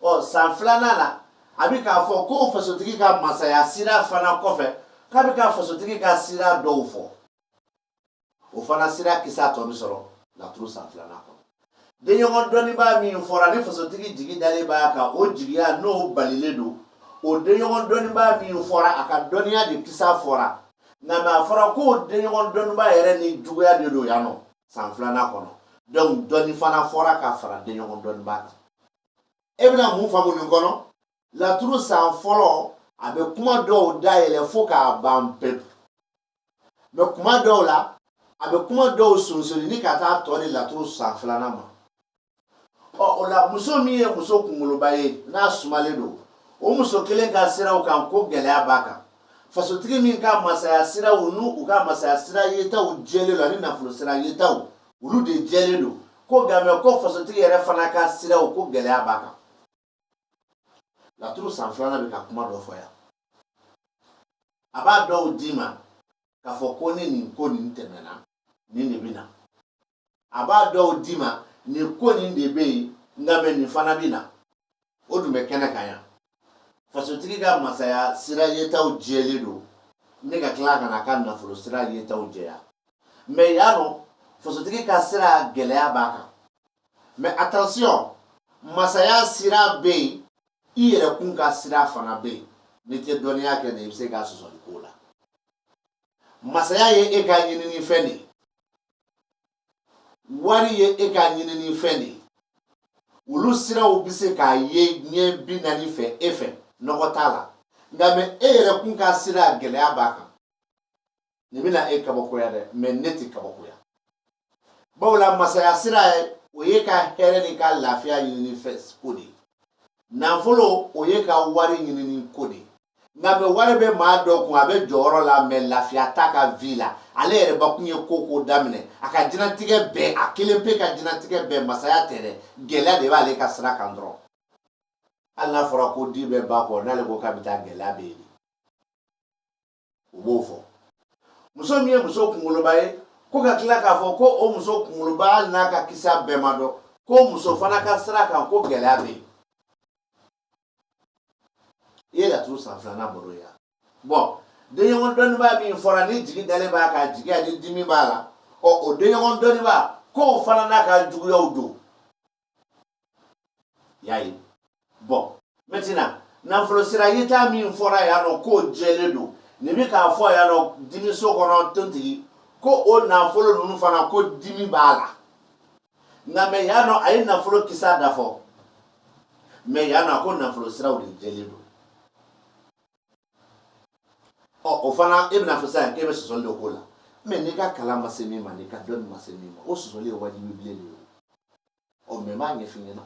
ɔ san filanan na a bɛ k'a fɔ ko fasotigi ka masaya sira fana kɔfɛ k'a bɛ ka fasotigi ka sira dɔw fɔ o fana sira kisa tɔ bɛ sɔrɔ laturu san filanan kɔnɔ denɲɔgɔn dɔnnibaa min fɔra ni fasotigi jigi dalen b'a kan o jigiya n'o balilen don o denɲɔgɔn dɔnnibaa min fɔra a ka dɔnniya de kisa fɔra nka mɛ a fɔra ko denɲɔgɔn dɔnnibaa yɛrɛ ni juguya de don yan nɔ san filanan kɔnɔ donc dɔɔni fana fɔra ka fara denɲɔgɔn dɔnnibaa kan e bɛna mun faamu nin kɔnɔ laturu san fɔlɔ a bɛ kuma dɔw dayɛlɛ fo k'a ban pewu mɛ kuma dɔw la a bɛ kuma dɔw sonsolini ka taa tɔ di laturu san filanan ma ɔ o la muso min ye muso kunkoloba ye n'a sumalen don o muso kelen ka siraw kan ko gɛlɛya b'a kan fasotigi min ka masaya siraw n'u u ka masaya sira yetaw jɛlen don ani nafolo sira yetaw olu de jɛlen don ko nka mɛ ko fasotigi yɛrɛ fana ka siraw ko gɛlɛya b'a kan laturu san filanan bɛ ka kuma dɔ fɔ yan a b'a dɔw d'i ma k'a fɔ ko ni nin ko nin tɛmɛna nin de bɛ na a b'a dɔw d'i ma nin ko nin de bɛ yen nka mɛ nin fana bɛ na o dun bɛ kɛnɛ kan yan fasotigi ka masaya sira yetaw jɛlen don ne ka tila ka na ka nafolo sira yetaw jɛya mɛ yan nɔ fasotigi ka sira gɛlɛya b'a kan mɛ attention masaya sira bɛ yen i yɛrɛ kun ka sira fana bɛ yen n'i tɛ dɔnniya kɛ de i bɛ se ka sɔsɔli k'o la masaya ye e ka ɲinini fɛn de ye wari ye e ka ɲinini fɛn de ye olu siraw bɛ se ka ye ɲɛ bi naani fɛ e fɛ nɔgɔ t'a la nka mɛ e yɛrɛ kun ka sira gɛlɛya b'a kan nin bɛna e kabakoya dɛ mɛ ne tɛ kabakoya bawo la masaya sira ye o y'e ka hɛrɛ n'i ka lafiya ɲinini fɛn ko de ye nafolo o y'e ka wari ɲinini ko de ye nka mɛ wari bɛ maa dɔ kun a bɛ jɔyɔrɔ la mɛ lafiya t'a ka vi la ale yɛrɛbakun ye ko ko daminɛ a ka diɲɛlatigɛ bɛɛ a kelen pe ka diɲɛlatigɛ bɛɛ masaya tɛ dɛ gɛlɛya de b'ale ka sira kan dɔrɔn hali n'a fɔra ko di bɛ ba kɔ n'ale ko k'a bɛ taa gɛlɛya bɛ yen u b'o fɔ muso min ye muso kunkoloba ye ko ka tila k'a fɔ ko o muso kunkoloba hali n'a ka kisa bɛɛ ma dɔn ko muso fana ka sira kan ko gɛlɛya bɛ yen i ye laturu san filanan baro ye bɔn denɲɔgɔn dɔnnibaa min fɔra ni jigi dalen b'a kan jigi ani dimi b'a la ɔ o denɲɔgɔn dɔnnibaa k'o fana n'a ka juguyaw don y'a ye bɔn mɛtina nafolo sira yeta min fɔra yan nɔ k'o jɛlen don nin bɛ k'a fɔ yan nɔ dimiso kɔnɔ tontigi ko o nafolo ninnu fana ko dimi b'a la nka mɛ yan nɔ a ye nafolo kisa da fɔ mɛ yan nɔ a ko nafolo siraw de jɛlen don ɔ o fana e bɛna fɔ sisan k'e bɛ sɔsɔli dɔ k'o la mɛ n'i ka kalan ma se min ma n'i ka dɔnni ma se min ma o sɔsɔli ye wajibi bilen de ye o mɛ n b'a ɲɛf'i ɲɛna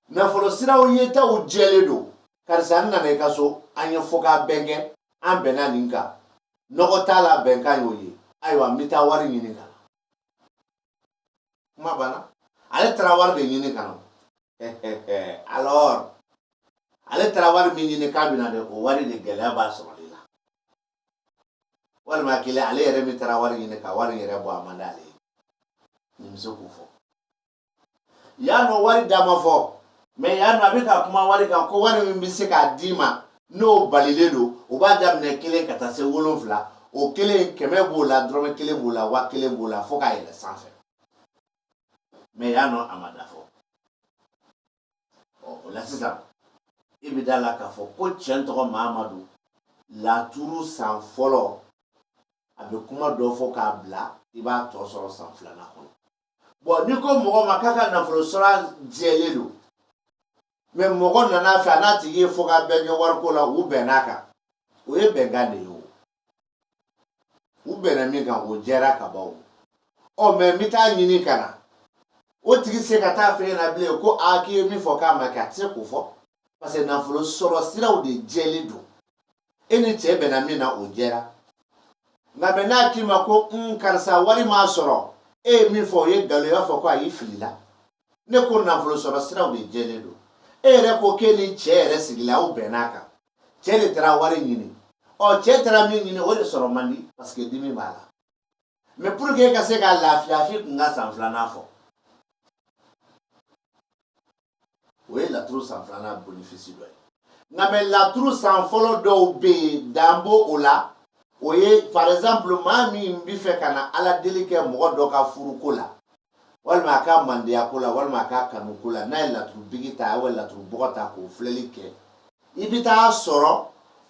nafolo siraw yetaw jɛlen don karisa n nana i ka so an ye fɔkabɛn kɛ an bɛnna nin kan nɔgɔ t'a la bɛnkan y'o ye ayiwa n bɛ taa wari ɲini ka na kuma banna ale taara wari de ɲini ka na alors ale taara wari min ɲini k'a bɛ na dɛ o wari de gɛlɛya b'a sɔrɔli la walima kelen ale yɛrɛ min taara wari ɲini ka wari yɛrɛ bɔ a man d'ale ye nin bɛ se k'o fɔ yan nɔ wari da ma fɔ mɛ yan nɔ a bɛ ka kuma wari kan ko wari min bɛ se k'a d'i ma n'o balilen don o b'a daminɛ kelen ka taa se wolonfila o kelen kɛmɛ b'o la dɔrɔmɛ kelen b'o la wa kelen b'o la fo k'a yɛlɛ sanfɛ mɛ yan nɔ a ma da fɔ ɔ o la sisan i bɛ da la k'a fɔ ko cɛn tɔgɔ mamadu laturu san fɔlɔ a bɛ kuma dɔ fɔ k'a bila i b'a tɔ sɔrɔ san filanan kɔnɔ bɔn n'i ko mɔgɔ ma k'a ka nafolo sɔrɔ jɛlen don mɛ mɔgɔ nana a fɛ a n'a tigi ye fo ka bɛn kɛ wariko la u bɛnn'a kan o ye bɛnkan de ye o u bɛnna min kan o jɛra ka ban ɔ mɛ min bɛ taa ɲini ka na o tigi se ka taa f'e ɲɛna bilen ko a k'i ye min fɔ k'a ma kɛ a tɛ se k'o fɔ parce que nafolo sɔrɔ siraw de jɛlen don e ni cɛ bɛnna min na o jɛra nka mɛ n'a k'i ma ko n karisa wari ma sɔrɔ e ye min fɔ o ye nkalon ye i b'a fɔ ko a y'i filila ne ko nafolo sɔrɔ siraw de jɛlen don e yɛrɛ ko k'e ni cɛ yɛrɛ sigila aw bɛnna a kan cɛ de taara wari ɲini ɔ cɛ taara min ɲini o de sɔrɔ man di parce que dimi b'a la mɛ pour que e ka se ka lafiya f'i tun ka san filanan fɔ o ye laturu san filanan bénéfice dɔ ye nka mɛ laturu san fɔlɔ dɔw bɛ yen dan b'o o la o ye par exemple maa min bɛ fɛ ka na ala deli kɛ mɔgɔ dɔ ka furuko la walima a ka mandiya ko la walima a ka kanu ko la n'a ye laturu bigi ta walima laturu bɔgɔ ta k'o filɛli kɛ i bɛ taa sɔrɔ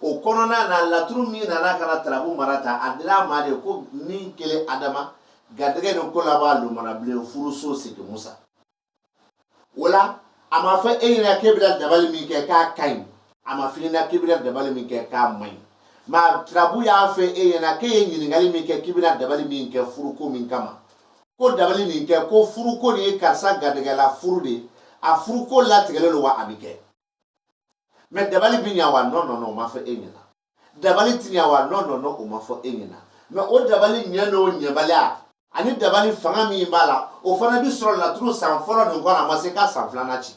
o kɔnɔna na laturu min nana ka na turabu mara ta a dira a ma de ko min kelen adama garijɛgɛ ni ko la b'a lomana bilen furuso sigi musa o la a ma fɔ e ɲɛna k'e bɛna dabali min kɛ k'a ka ɲi a ma f'i ɲɛna k'i bɛna dabali min kɛ k'a man ɲi mɛ turabu y'a fɔ e ɲɛna k'e ye ɲininkali min kɛ k'i bɛna dabali min kɛ furuko min kama ko dabali nin kɛ ko furuko nin ye karisa garijɛgɛla furu de a furuko latigɛlen don wa a bɛ kɛ mɛ dabali bɛ ɲa wa nɔ nɔ nɔ o ma fɔ e ɲɛna dabali tɛ ɲɛ wa nɔ nɔ nɔ o ma fɔ e ɲɛna mɛ o dabali ɲɛ n'o ɲɛbaliya ani dabali fanga min b'a la o fana bi sɔrɔ laturu san fɔlɔ nin kɔnɔ a ma se k'a san filanan ci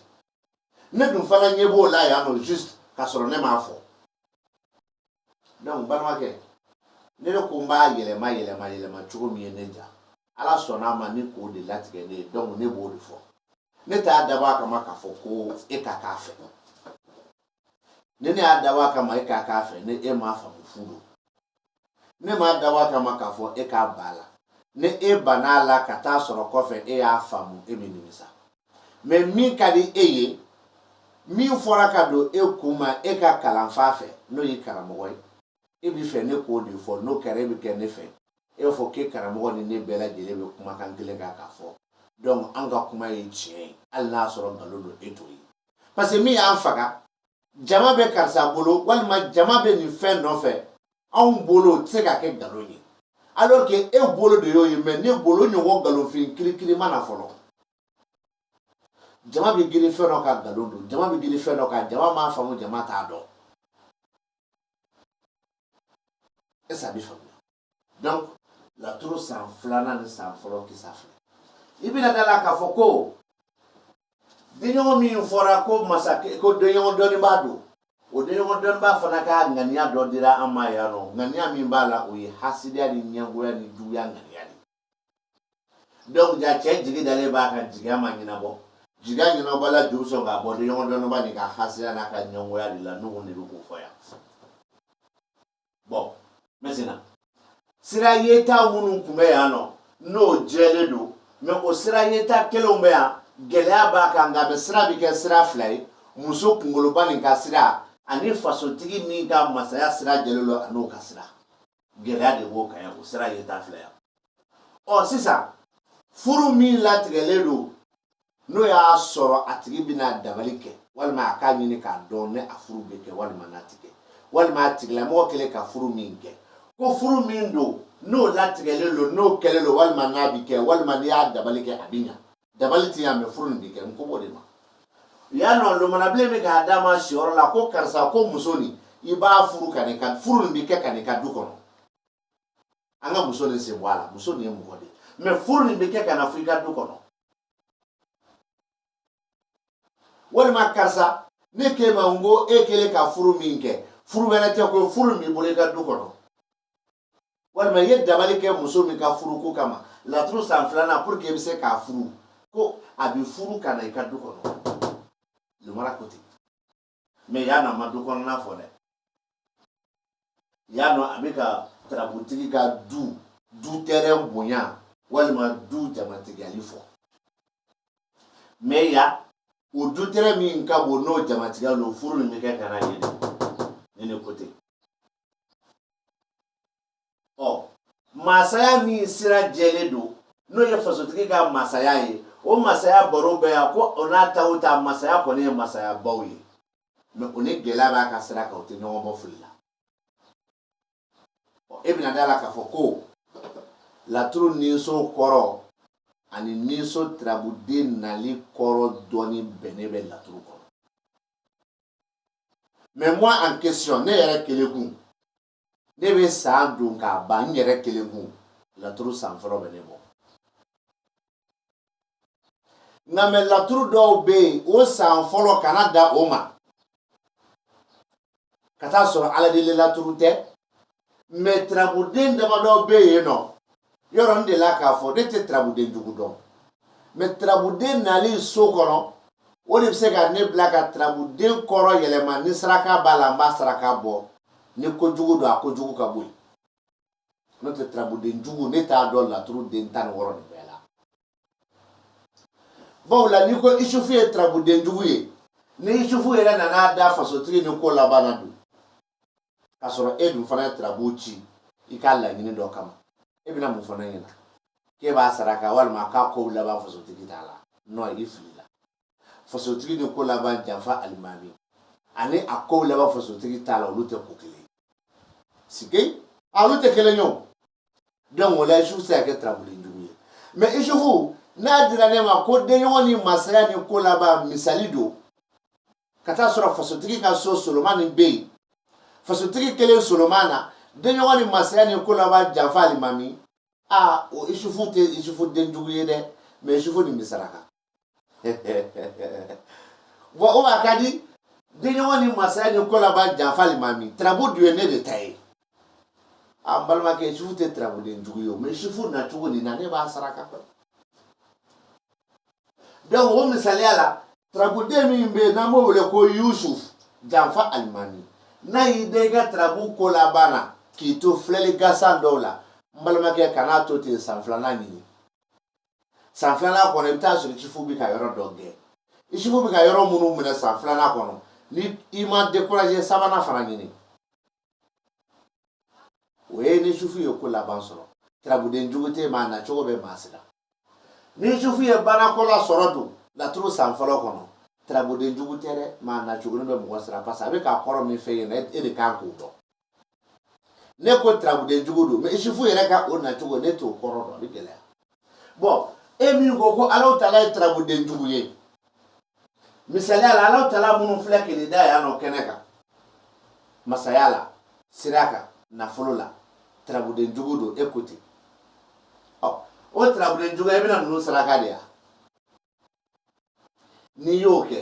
ne dun fana ɲɛ b'o la yan nɔ juste k'a sɔrɔ ne m'a fɔ donc balimakɛ ne de ko n b'a yɛlɛma yɛlɛma yɛlɛma cogo min ye ne ja ala sɔnna a ma ni k'o de latigɛ ne ye donc ne b'o de fɔ ne t'a dabɔ a kama k'a fɔ ko e ka k'a fɛ ni ne y'a dabɔ a kama e ka k'a fɛ ni e m'a faamu fu don ne m'a dabɔ a kama k'a fɔ e ka ban a la ni e banna a la ka taa sɔrɔ kɔfɛ e y'a faamu e bɛ nimisa mɛ min ka di e ye min fɔra ka don e kun ma e ka kalanfa fɛ n'o ye karamɔgɔ ye e bɛ fɛ ne k'o de fɔ n'o kɛra e bɛ kɛ ne fɛ e b'a fɔ k'e karamɔgɔ ni ne bɛɛ lajɛlen bɛ kumakan kelen kan k'a fɔ donc an ka kuma ye tiɲɛ ye hali n'a sɔrɔ nkalon don e t'o ye parce que min y'an faga jama bɛ karisa bolo walima jama bɛ nin fɛn nɔfɛ anw bolo o tɛ se ka kɛ nkalon ye alors que e bolo de y'o ye mais ne bolo ɲɔgɔn nkalonfin kirikiri ma na fɔlɔ jama bɛ girin fɛn dɔ kan nkalon don jama bɛ girin fɛn dɔ kan jama m'a faamu jama t'a dɔn Est ce que a bɛ faamuya donc laturu san filanan ni san fɔlɔ kisa filɛ i bɛna da la k'a fɔ ko denɲɔgɔn min fɔra ko masakɛ ko denɲɔgɔn dɔnnibaa don o denɲɔgɔn dɔnnibaa fana ka ŋaniya dɔ dira an ma yan nɔ ŋaniya min b'a la o ye hasidiya ni ɲɛngoya ni juguya ŋaniya de Donc ja cɛ jigi dalen b'a kan jigiya ma ɲɛnabɔ jigiya ɲɛnabɔ la juru sɔn k'a bɔ denɲɔgɔn dɔnnibaa nin ka hasidiya n'a ka ɲɛngoya de la n'o de bɛ k'o fɔ yan bon maintenant sira yeta minnu tun bɛ yan nɔ n'o jɛlen don mais o sira yeta kelenw bɛ yan gɛlɛya b'a kan nka bɛ sira bɛ kɛ sira fila ye muso kunkoloba nin ka sira ani fasotigi nin ka masaya sira jɛlen don an'o ka sira gɛlɛya de b'o kan yan o sira yeta fila yan ɔ sisan furu min latigɛlen don n'o y'a sɔrɔ a tigi bɛna dabali kɛ walima a k'a ɲini k'a dɔn ni a furu bɛ kɛ walima n'a ti kɛ walima a tigilamɔgɔ kɛlen ka furu min kɛ ko furu min don n'o latigɛlen don n'o kɛlen don walima n'a bɛ kɛ walima n'i y'a dabali kɛ a bɛ ɲa dabali tɛ yan mais furu nin bɛ kɛ n ko b'o de ma yan nɔ lomanabilen bɛ k'a d'a ma siyɔrɔ la ko karisa ko muso nin i b'a furu ka n'i ka furu nin bɛ kɛ ka n'i ka du kɔnɔ an ka muso nin sen bɔ a la muso nin ye mɔgɔ de ye mais furu nin bɛ kɛ ka na fɔ i ka du kɔnɔ walima karisa ne k'e ma n ko e kɛlen ka furu min kɛ furu wɛrɛ tɛ ko furu min b'i bolo i ka du kɔnɔ walima i ye dabali kɛ muso min ka furu ko kama laturu san filanan pour que i bɛ se k'a furu ko a bɛ furu ka na i ka du kɔnɔ lumara ko ten mais yan nɔ a ma du kɔnɔna fɔ dɛ yan nɔ a bɛ ka tarabutigi ka du du terrain bonya walima du jamatigiyali fɔ mais yan o du terrain min ka bon n'o jamatigiya don furu nin bɛ kɛ ka na yen nin de ko ten ɔ masaya min sira jɛlen don n'o ye fasotigi ka masaya ye o masaya baro bɛ yan ko o n'a ta o ta masaya kɔni ye masayabaw ye mais o ni gɛlɛya b'a ka sira kan o tɛ ɲɔgɔn bɔ fili la e bɛna da la k'a fɔ ko laturu ninso kɔrɔ ani ninso tarabuden nali kɔrɔ dɔnni bɛnnen bɛ laturu kɔnɔ mais moi en question ne yɛrɛ kelen kun ne bɛ san don k'a ban n yɛrɛ kelen kun laturu san fɔlɔ bɛ ne bɔ nka mais laturu dɔw bɛ yen o san fɔlɔ kana da o ma ka taa sɔrɔ ala deli laturu tɛ mais turabuden damadɔ bɛ yen nɔ yɔrɔ n delila k'a fɔ ne tɛ turabuden jugu dɔn mais turabuden nali so kɔnɔ o de bɛ se ka ne bila ka turabuden kɔrɔ yɛlɛma ni saraka b'a la n b'a saraka bɔ ni kojugu don a kojugu ka bɔ yen n'o tɛ turabuden jugu ne t'a dɔn laturu den tan ni wɔɔrɔ de bɛɛ la bawo la n'i ko isufu ye turabudenjugu ye ni isufu yɛrɛ nana da fasotigi ni ko laban na don k'a sɔrɔ e dun fana ye turabu ci i ka laɲini dɔ kama e bɛna mun fana ɲɛna k'e b'a saraka walima k'a ko laban fasotigi t'a la non i filila fasotigi ni ko laban janfa alimami ani a ko laban fasotigi t'a la olu tɛ ko kelen sike a olu tɛ kelen ye o donc o la isufu tɛ se ka kɛ tarabuden jugu ye mais isufu n'a dira ne ma ko denɲɔgɔn ni masaya ni ko laban misali don ka taa sɔrɔ fasotigi ka so solomani bɛ yen fasotigi kelen soloma na denɲɔgɔn ni masaya ni ko laban janfa alimami a o isufu tɛ isufu denjugu ye dɛ mais isufu nin bɛ saraka bon o a ka di denɲɔgɔn ni masaya ni ko laban janfa alimami tarabu dun ye ne de ta ye a n balimakɛ isufu tɛ tarabuden jugu ye o mais isufu nacogo nin na ne b'a saraka kɛ donc o misaliya la tarabuden min bɛ yen n'an b'o wele ko yusuf janfa alimami n'a y'i da i ka tarabu ko laban na k'i to filɛli gansan dɔw la n balimakɛ kan'a to ten san filanan ɲini san filanan kɔnɔ i bɛ taa sɔrɔ isufu bɛ ka yɔrɔ dɔ gɛn isufu bɛ ka yɔrɔ minnu minɛ san filanan kɔnɔ ni i ma découragé sabanan fana ɲini o ye ni isufu ye ko laban sɔrɔ turabuden jugu tɛ mais a nacogo bɛ maa siran ni isufu ye banako la sɔrɔ dun laturu san fɔlɔ kɔnɔ turabuden jugu tɛ dɛ mais a nacogo bɛ mɔgɔ siran parce que a bɛ k'a kɔrɔ min fɛ yen e de kan k'o dɔn ne ko turabudenjugu don mais isufu yɛrɛ ka o nacogo ne t'o kɔrɔ dɔn a bɛ gɛlɛya bon e min ko ko alahu taala ye turabudenjugu ye misaliya la alahu taala minnu filɛ kele da yan nɔ kɛnɛ kan masaya la sira kan nafolo la turabudenjugu don e ko ten ɔ o turabudenjugu i bɛna ninnu saraka de ya n'i y'o kɛ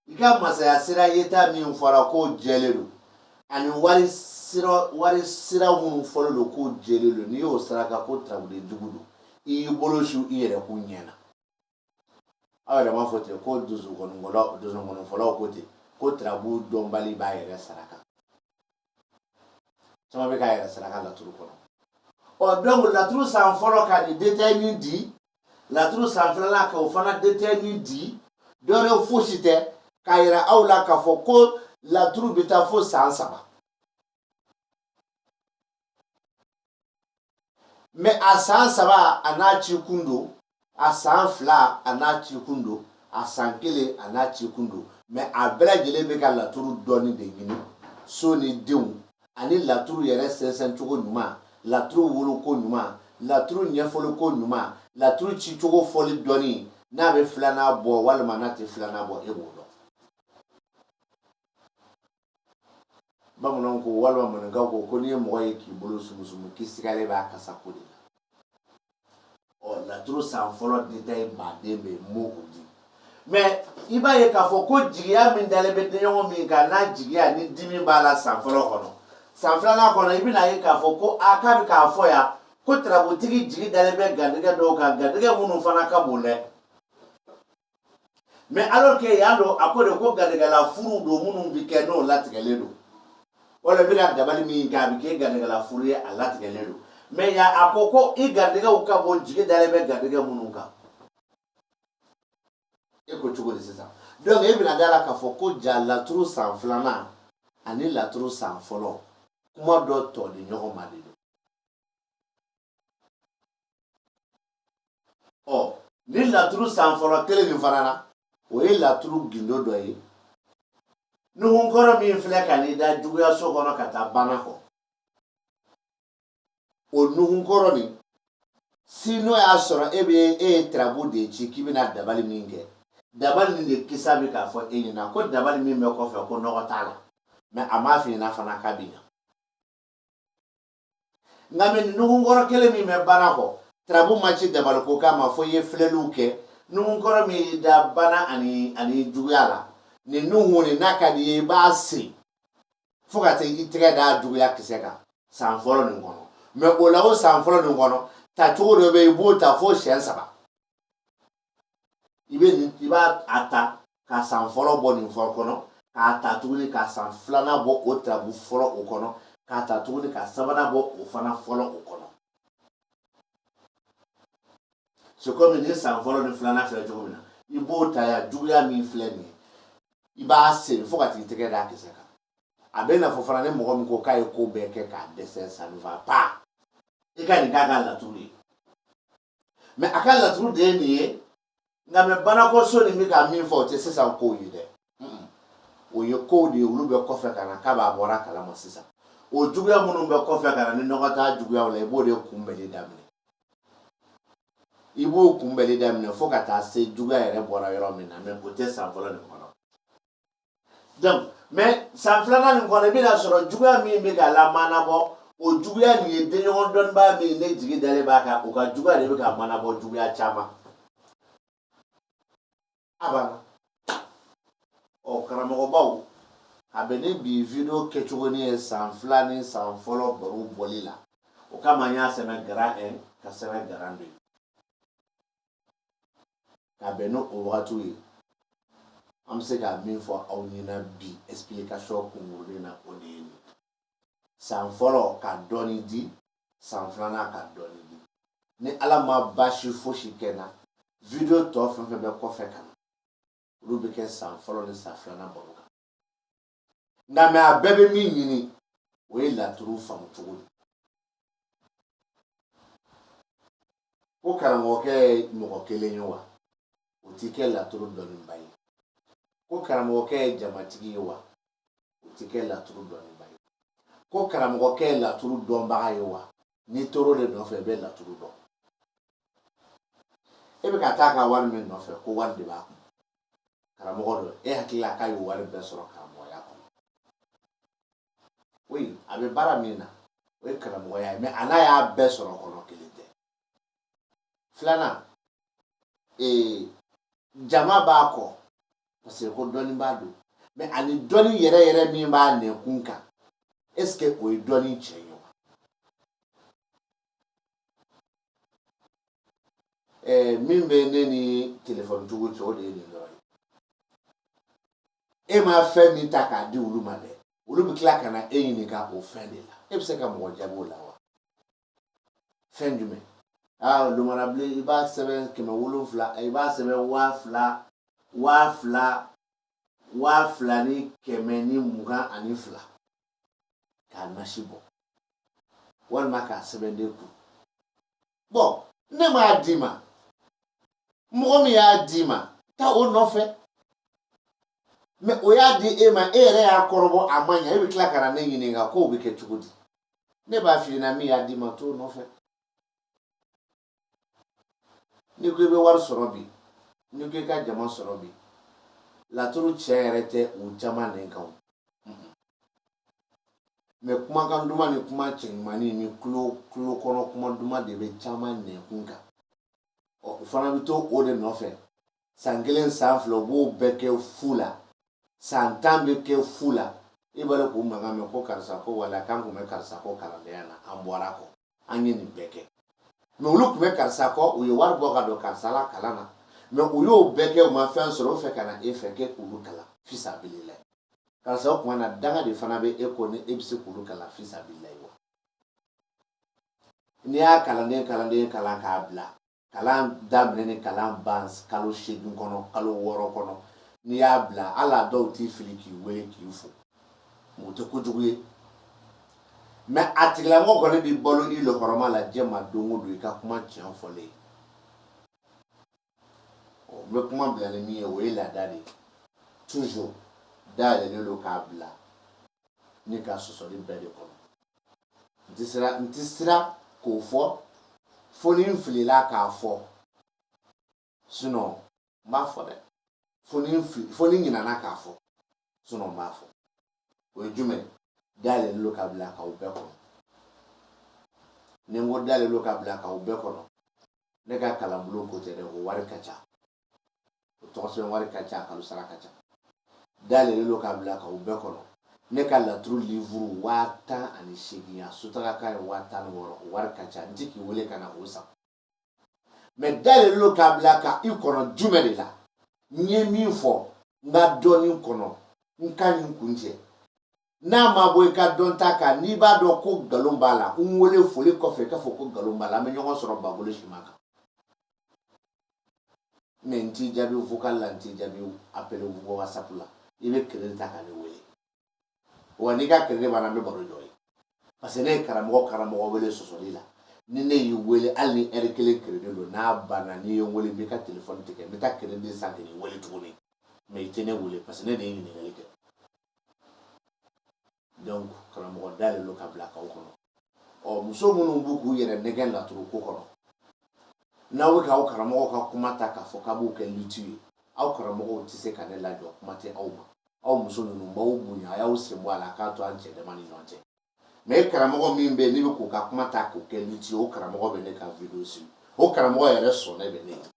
i ka masaya sira yeta min fɔra k'o jɛlen don ani wari sira minnu fɔlen don k'o jɛlen don n'i y'o saraka ko tarabuden jugu don i y'i bolo su i yɛrɛ kun ɲɛ na aw yɛrɛ m'a fɔ ten ko donsonkɔnifɔlaw ko ten ko tarabu dɔnbali b'a yɛrɛ saraka caman bɛ k'a yɛrɛ saraka laturu kɔnɔ ɔ donc laturu san fɔlɔ ka nin détail min di laturu san filanan ka o fana détail min di dɔwɛrɛ fosi tɛ k'a yira aw la k'a fɔ ko laturu bɛ taa fo san saba mais a san saba a n'a cikun don a san fila a n'a cikun don a san kelen a n'a cikun don mais a bɛɛ lajɛlen bɛ ka laturu dɔnni de ɲini so ni denw ani laturu yɛrɛ sɛnsɛncogo ɲuman laturu woloko ɲuman laturu ɲɛfɔliko ɲuman laturu cicogo fɔli dɔnni n'a bɛ filanan bɔ walima n'a tɛ filanan bɔ e b'o dɔn bamananw ko walima maninkaw ko ko n'i ye mɔgɔ ye k'i bolo sumusumu k'i sigalen b'a kasa ko de la ɔ laturu san fɔlɔ détail baden bɛ m'o o di mais i b'a ye k'a fɔ ko jigiya min dalen bɛ denɲɔgɔn min kan n'a jigiya ni dimi b'a la san fɔlɔ kɔnɔ san filanan kɔnɔ i bɛn'a ye k'a fɔ ko a k'a bɛ k'a fɔ yan ko tarabutigi jigi dalen bɛ garijɛgɛ dɔw kan garijɛgɛ minnu fana ka bon dɛ mais alors que yan don a ko de ko garijɛgɛla furu don minnu bɛ kɛ n'o latigɛlen don wala i bɛ ka dabali min kɛ a bɛ kɛ garijɛgɛla furu ye a latigɛlen don mais yan a ko ko i garijɛgɛw ka bon jigi dalen bɛ garijɛgɛ minnu kan e ko cogo di sisan donc e bɛna d'a la k'a fɔ ko ja laturu san filanan ani laturu san fɔlɔ kuma dɔ tɔli ɲɔgɔn ma de ɔ ni laturu san fɔlɔ kelen nin fana na o ye laturu gindo dɔ ye nuhunkɔrɔ min filɛ ka n'i da juguyaso kɔnɔ ka taa bana kɔ o nuhunkɔrɔ nin si n'o y'a sɔrɔ e bɛ e ye tirabu de ci k'i bɛna dabali min kɛ dabali nin de kisa bɛ k'a fɔ e ɲɛna ko dabali min bɛ kɔfɛ ko nɔgɔ t'a la mais a m'a f'i ɲɛna fana k'a bɛ ɲa nka mais nuhunkɔrɔ kelen min bɛ bana kɔ tarabu ma ci dabali ko kama fo i ye filɛliw kɛ nuhunkɔrɔ min y'i da bana ani juguya la nin nuhun nin n'a ka di i ye i b'a siri fo ka taa i tɛgɛ da juguya kisɛ kan san fɔlɔ nin kɔnɔ mais o la o san fɔlɔ nin kɔnɔ tacogo dɔ bɛ i b'o ta fo siyɛn saba i bɛ nin i b'a a ta ka san fɔlɔ bɔ nin fɔlɔ kɔnɔ k'a ta tuguni ka san filanan bɔ o tirabu fɔlɔ o kɔnɔ k'a ta tuguni ka sabanan bɔ o fana fɔlɔ o kɔnɔ c'est comme ni san fɔlɔ ni filanan filɛ cogo min na i b'o ta ya juguya min filɛ nin ye i b'a seri fo ka t'i tɛgɛ d'a kisɛ kan a bɛ n'a fɔ fana ni mɔgɔ min ko k'a ye ko bɛɛ kɛ k'a dɛsɛ ça ne va pas i ka nin k'a ka laturu ye mais a ka laturu de ye nin ye nka mais banakɔso nin bɛ ka min fɔ o tɛ sisan kow ye dɛ o ye kow de ye olu bɛ kɔfɛ ka na k'a b'a bɔra a kalama sisan o juguya minnu bɛ kɔfɛ ka na ni nɔgɔ t'a juguyaw la i b'o de kunbɛli daminɛ i b'o kunbɛli daminɛ fo ka taa se juguya yɛrɛ bɔra yɔrɔ min na mais o tɛ san fɔlɔ nin kɔnɔ donc mais san filanan nin kɔnɔ i bɛna sɔrɔ juguya min bɛ ka lamanabɔ o juguya nin ye denɲɔgɔn dɔnnibaa min ne jigi dalen b'a kan o ka juguya de bɛ ka manabɔ juguya caman a banna ɔ karamɔgɔbaw a bɛ ni bi video kɛcogo nin ye san fila ni san fɔlɔ baro bɔli la o kama n y'a sɛbɛn grand 1 ka sɛbɛn grand 2 ka bɛn ni o wagatiw ye an bɛ se ka min fɔ aw ɲɛna bi explication kunkurunin na o de ye nin san fɔlɔ ka dɔɔni di san filanan ka dɔɔni di ni ala ma baasi fosi kɛ n na video tɔ fɛn fɛn bɛ kɔfɛ ka na olu bɛ kɛ san fɔlɔ ni san filanan baro kan nka mais a bɛɛ bɛ min ɲini o ye laturu faamu cogo de ko karamɔgɔkɛ ye mɔgɔ kelen ye wa o t'i kɛ laturu dɔnnibaa ye ko karamɔgɔkɛ ye jamatigi ye wa o t'i kɛ laturu dɔnnibaa ye ko karamɔgɔkɛ ye laturu dɔnbaga ye wa n'i tor'o de nɔfɛ i bɛ laturu dɔn e bɛ ka taa ka wari min nɔfɛ ko wari de b'a kun karamɔgɔ dɔ e hakili la k'a ye wari bɛɛ sɔrɔ karamɔgɔya kɔnɔ oui a bɛ baara min na o ye karamɔgɔya ye mais a n'a y'a bɛɛ sɔrɔ kɔnɔ kelen tɛ filanan ee jama b'a kɔ parce que ko dɔnni b'a don mais ani dɔnni yɛrɛ yɛrɛ min b'a nɛkun kan est ce que o ye dɔnni tiɲɛ ye wa ɛɛ min bɛ ne ni telefɔni tigiw cɛ o de ye nin dɔrɔn ye e ma fɛn min ta k'a di olu ma dɛ olu bɛ tila ka na e ɲininka o fɛn de la e bɛ se ka mɔgɔ jaabi o la wa fɛn jumɛn aa lumanabilen i b'a sɛbɛn kɛmɛ wolonwula i b'a sɛbɛn waa fila ni kɛmɛ ni mugan ani fila k'a nasi bɔ walima k'a sɛbɛn den kun bon ne m'a d'i ma mɔgɔ min y'a d'i ma taa o nɔfɛ mɛ o y'a di e ma e yɛrɛ y'a kɔrɔbɔ a ma ɲɛ e bɛ tila ka na ne ɲininka k'o bɛ kɛ cogo di ne b'a f'i ɲɛna min y'a d'i ma t'o nɔfɛ n'i ko i bɛ wari sɔrɔ bi n'i ko i ka jama sɔrɔ bi laturu tiɲɛ yɛrɛ tɛ u caman nɛn kan mɛ kumakan duman ni kuma cɛɲumannin ni tulo kɔnɔ kuma duman de bɛ caman nɛnkun kan ɔ u fana bɛ to o de nɔfɛ san kelen san fila u b'o bɛɛ kɛ fu la san tan bɛ kɛ fu la i b'a dɔn k'u mankan mɛn ko karisa ko wala k'an tun bɛ karisa kɔ kalandenya na an bɔra kɔ an ye nin bɛɛ kɛ mɛ olu tun bɛ karisa kɔ u ye wari bɔ ka don karisa la kalan na mɛ u y'o bɛɛ kɛ u ma fɛn sɔrɔ o fɛ ka na e fɛ k'e k'olu kalan fisabilila karisa o tuma na danga de fana bɛ e kɔ ni e bɛ se k'olu kalan fisabilila wa n'i y'a kalanden kalan k'a bila kalan daminɛ ni kalan ban kalo seegin kɔnɔ kalo wɔɔrɔ kɔnɔ n'i y'a bila hali a dɔw t'i fili k'i wele k'i fo mɛ o tɛ kojugu ye mɛ a tigilamɔgɔ kɔni b'i balo i la hɔrɔma la diɲɛ ma don o don i ka kuma tiɲɛ fɔlen ɔ n bɛ kuma bila ni min ye o ye laada de ye toujours dayɛlɛlen don k'a bila ni ka sɔsɔli bɛɛ de kɔnɔ n tɛ siran n tɛ siran k'o fɔ fo ni n filila k'a fɔ sinon n b'a fɔ dɛ fo ni n fili fo ni n ɲinana k'a fɔ sinon n b'a fɔ o ye jumɛn dayɛlɛlen don ka bila k'aw bɛɛ kɔnɔ ni n ko dayɛlɛlen don ka bila k'aw bɛɛ kɔnɔ ne ka kalanbulon ko tɛ dɛ o wari ka ca o tɔgɔsɛbɛn wari ka ca kalo sara ka ca dayɛlɛlen don k'a bila k'aw bɛɛ kɔnɔ ne ka laturu livuru waa tan ani seegin ya sotara ka ye waa tan ni wɔɔrɔ o wari ka ca n ti k'i wele ka na o san mɛ dayɛlɛlen don k'a bila ka i kɔnɔ jumɛn de la n ye min fɔ n ka dɔnni kɔnɔ n ka nin kuncɛ n'a ma bɔ i ka dɔnta kan n'i b'a dɔn ko nkalon b'a la n wele foli kɔfɛ k'a fɔ ko nkalon b'a la an bɛ ɲɔgɔn sɔrɔ bagolo siman kan mɛ n t'i jaabi vocal la n t'i jaabi appel whatsapp la i bɛ crédit ta ka ne wele wa n'i ka crédit banna n bɛ baro jɔ yen parce que ne ye karamɔgɔ wele sɔsɔli la ni ne y'i wele hali ni ɛri kelen crédit don n'a banna n'i ye n wele n b'i ka telefɔni tigɛ n bɛ taa crédit san k'i wele tuguni mɛ i tɛ ne wele parce que ne de ye ɲininkali kɛ donc karamɔgɔ dayɛlɛlen don ka bila k'aw kɔnɔ ɔ muso minnu bɛ k'u yɛrɛ nɛgɛn laturu ko kɔnɔ n'aw bɛ k'aw karamɔgɔ ka kuma ta k'a fɔ k'a b'o kɛ luti ye aw karamɔgɔw tɛ se ka ne lajɔ kuma tɛ aw ma aw muso ninnu b'aw bonya a y'aw sen bɔ a la k'a to an cɛ dama ni ɲɔgɔn cɛ mɛ karamɔgɔ min bɛ yen ne bɛ k'u ka kuma ta k'o kɛ luti ye o karamɔgɔ bɛ ne ka video suivre o karamɔgɔ yɛrɛ sɔnnen bɛ ne ye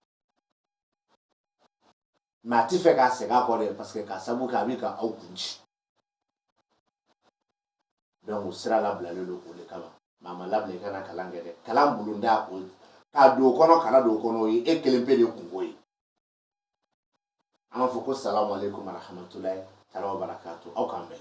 mɛ a tɛ fɛ ka segin a kɔ dɛ parce que k'a sabu kɛ a bɛ ka aw kun ci donc o sira labilalen don o de kama mɛ a ma labila i kana kalan kɛ dɛ kalan bulonda o ka don o kɔnɔ kana don o kɔnɔ o ye e kelen pe de kunko ye an b'a fɔ ko salamu aleykum warahamatulayi taala wa barakatu aw k'an bɛn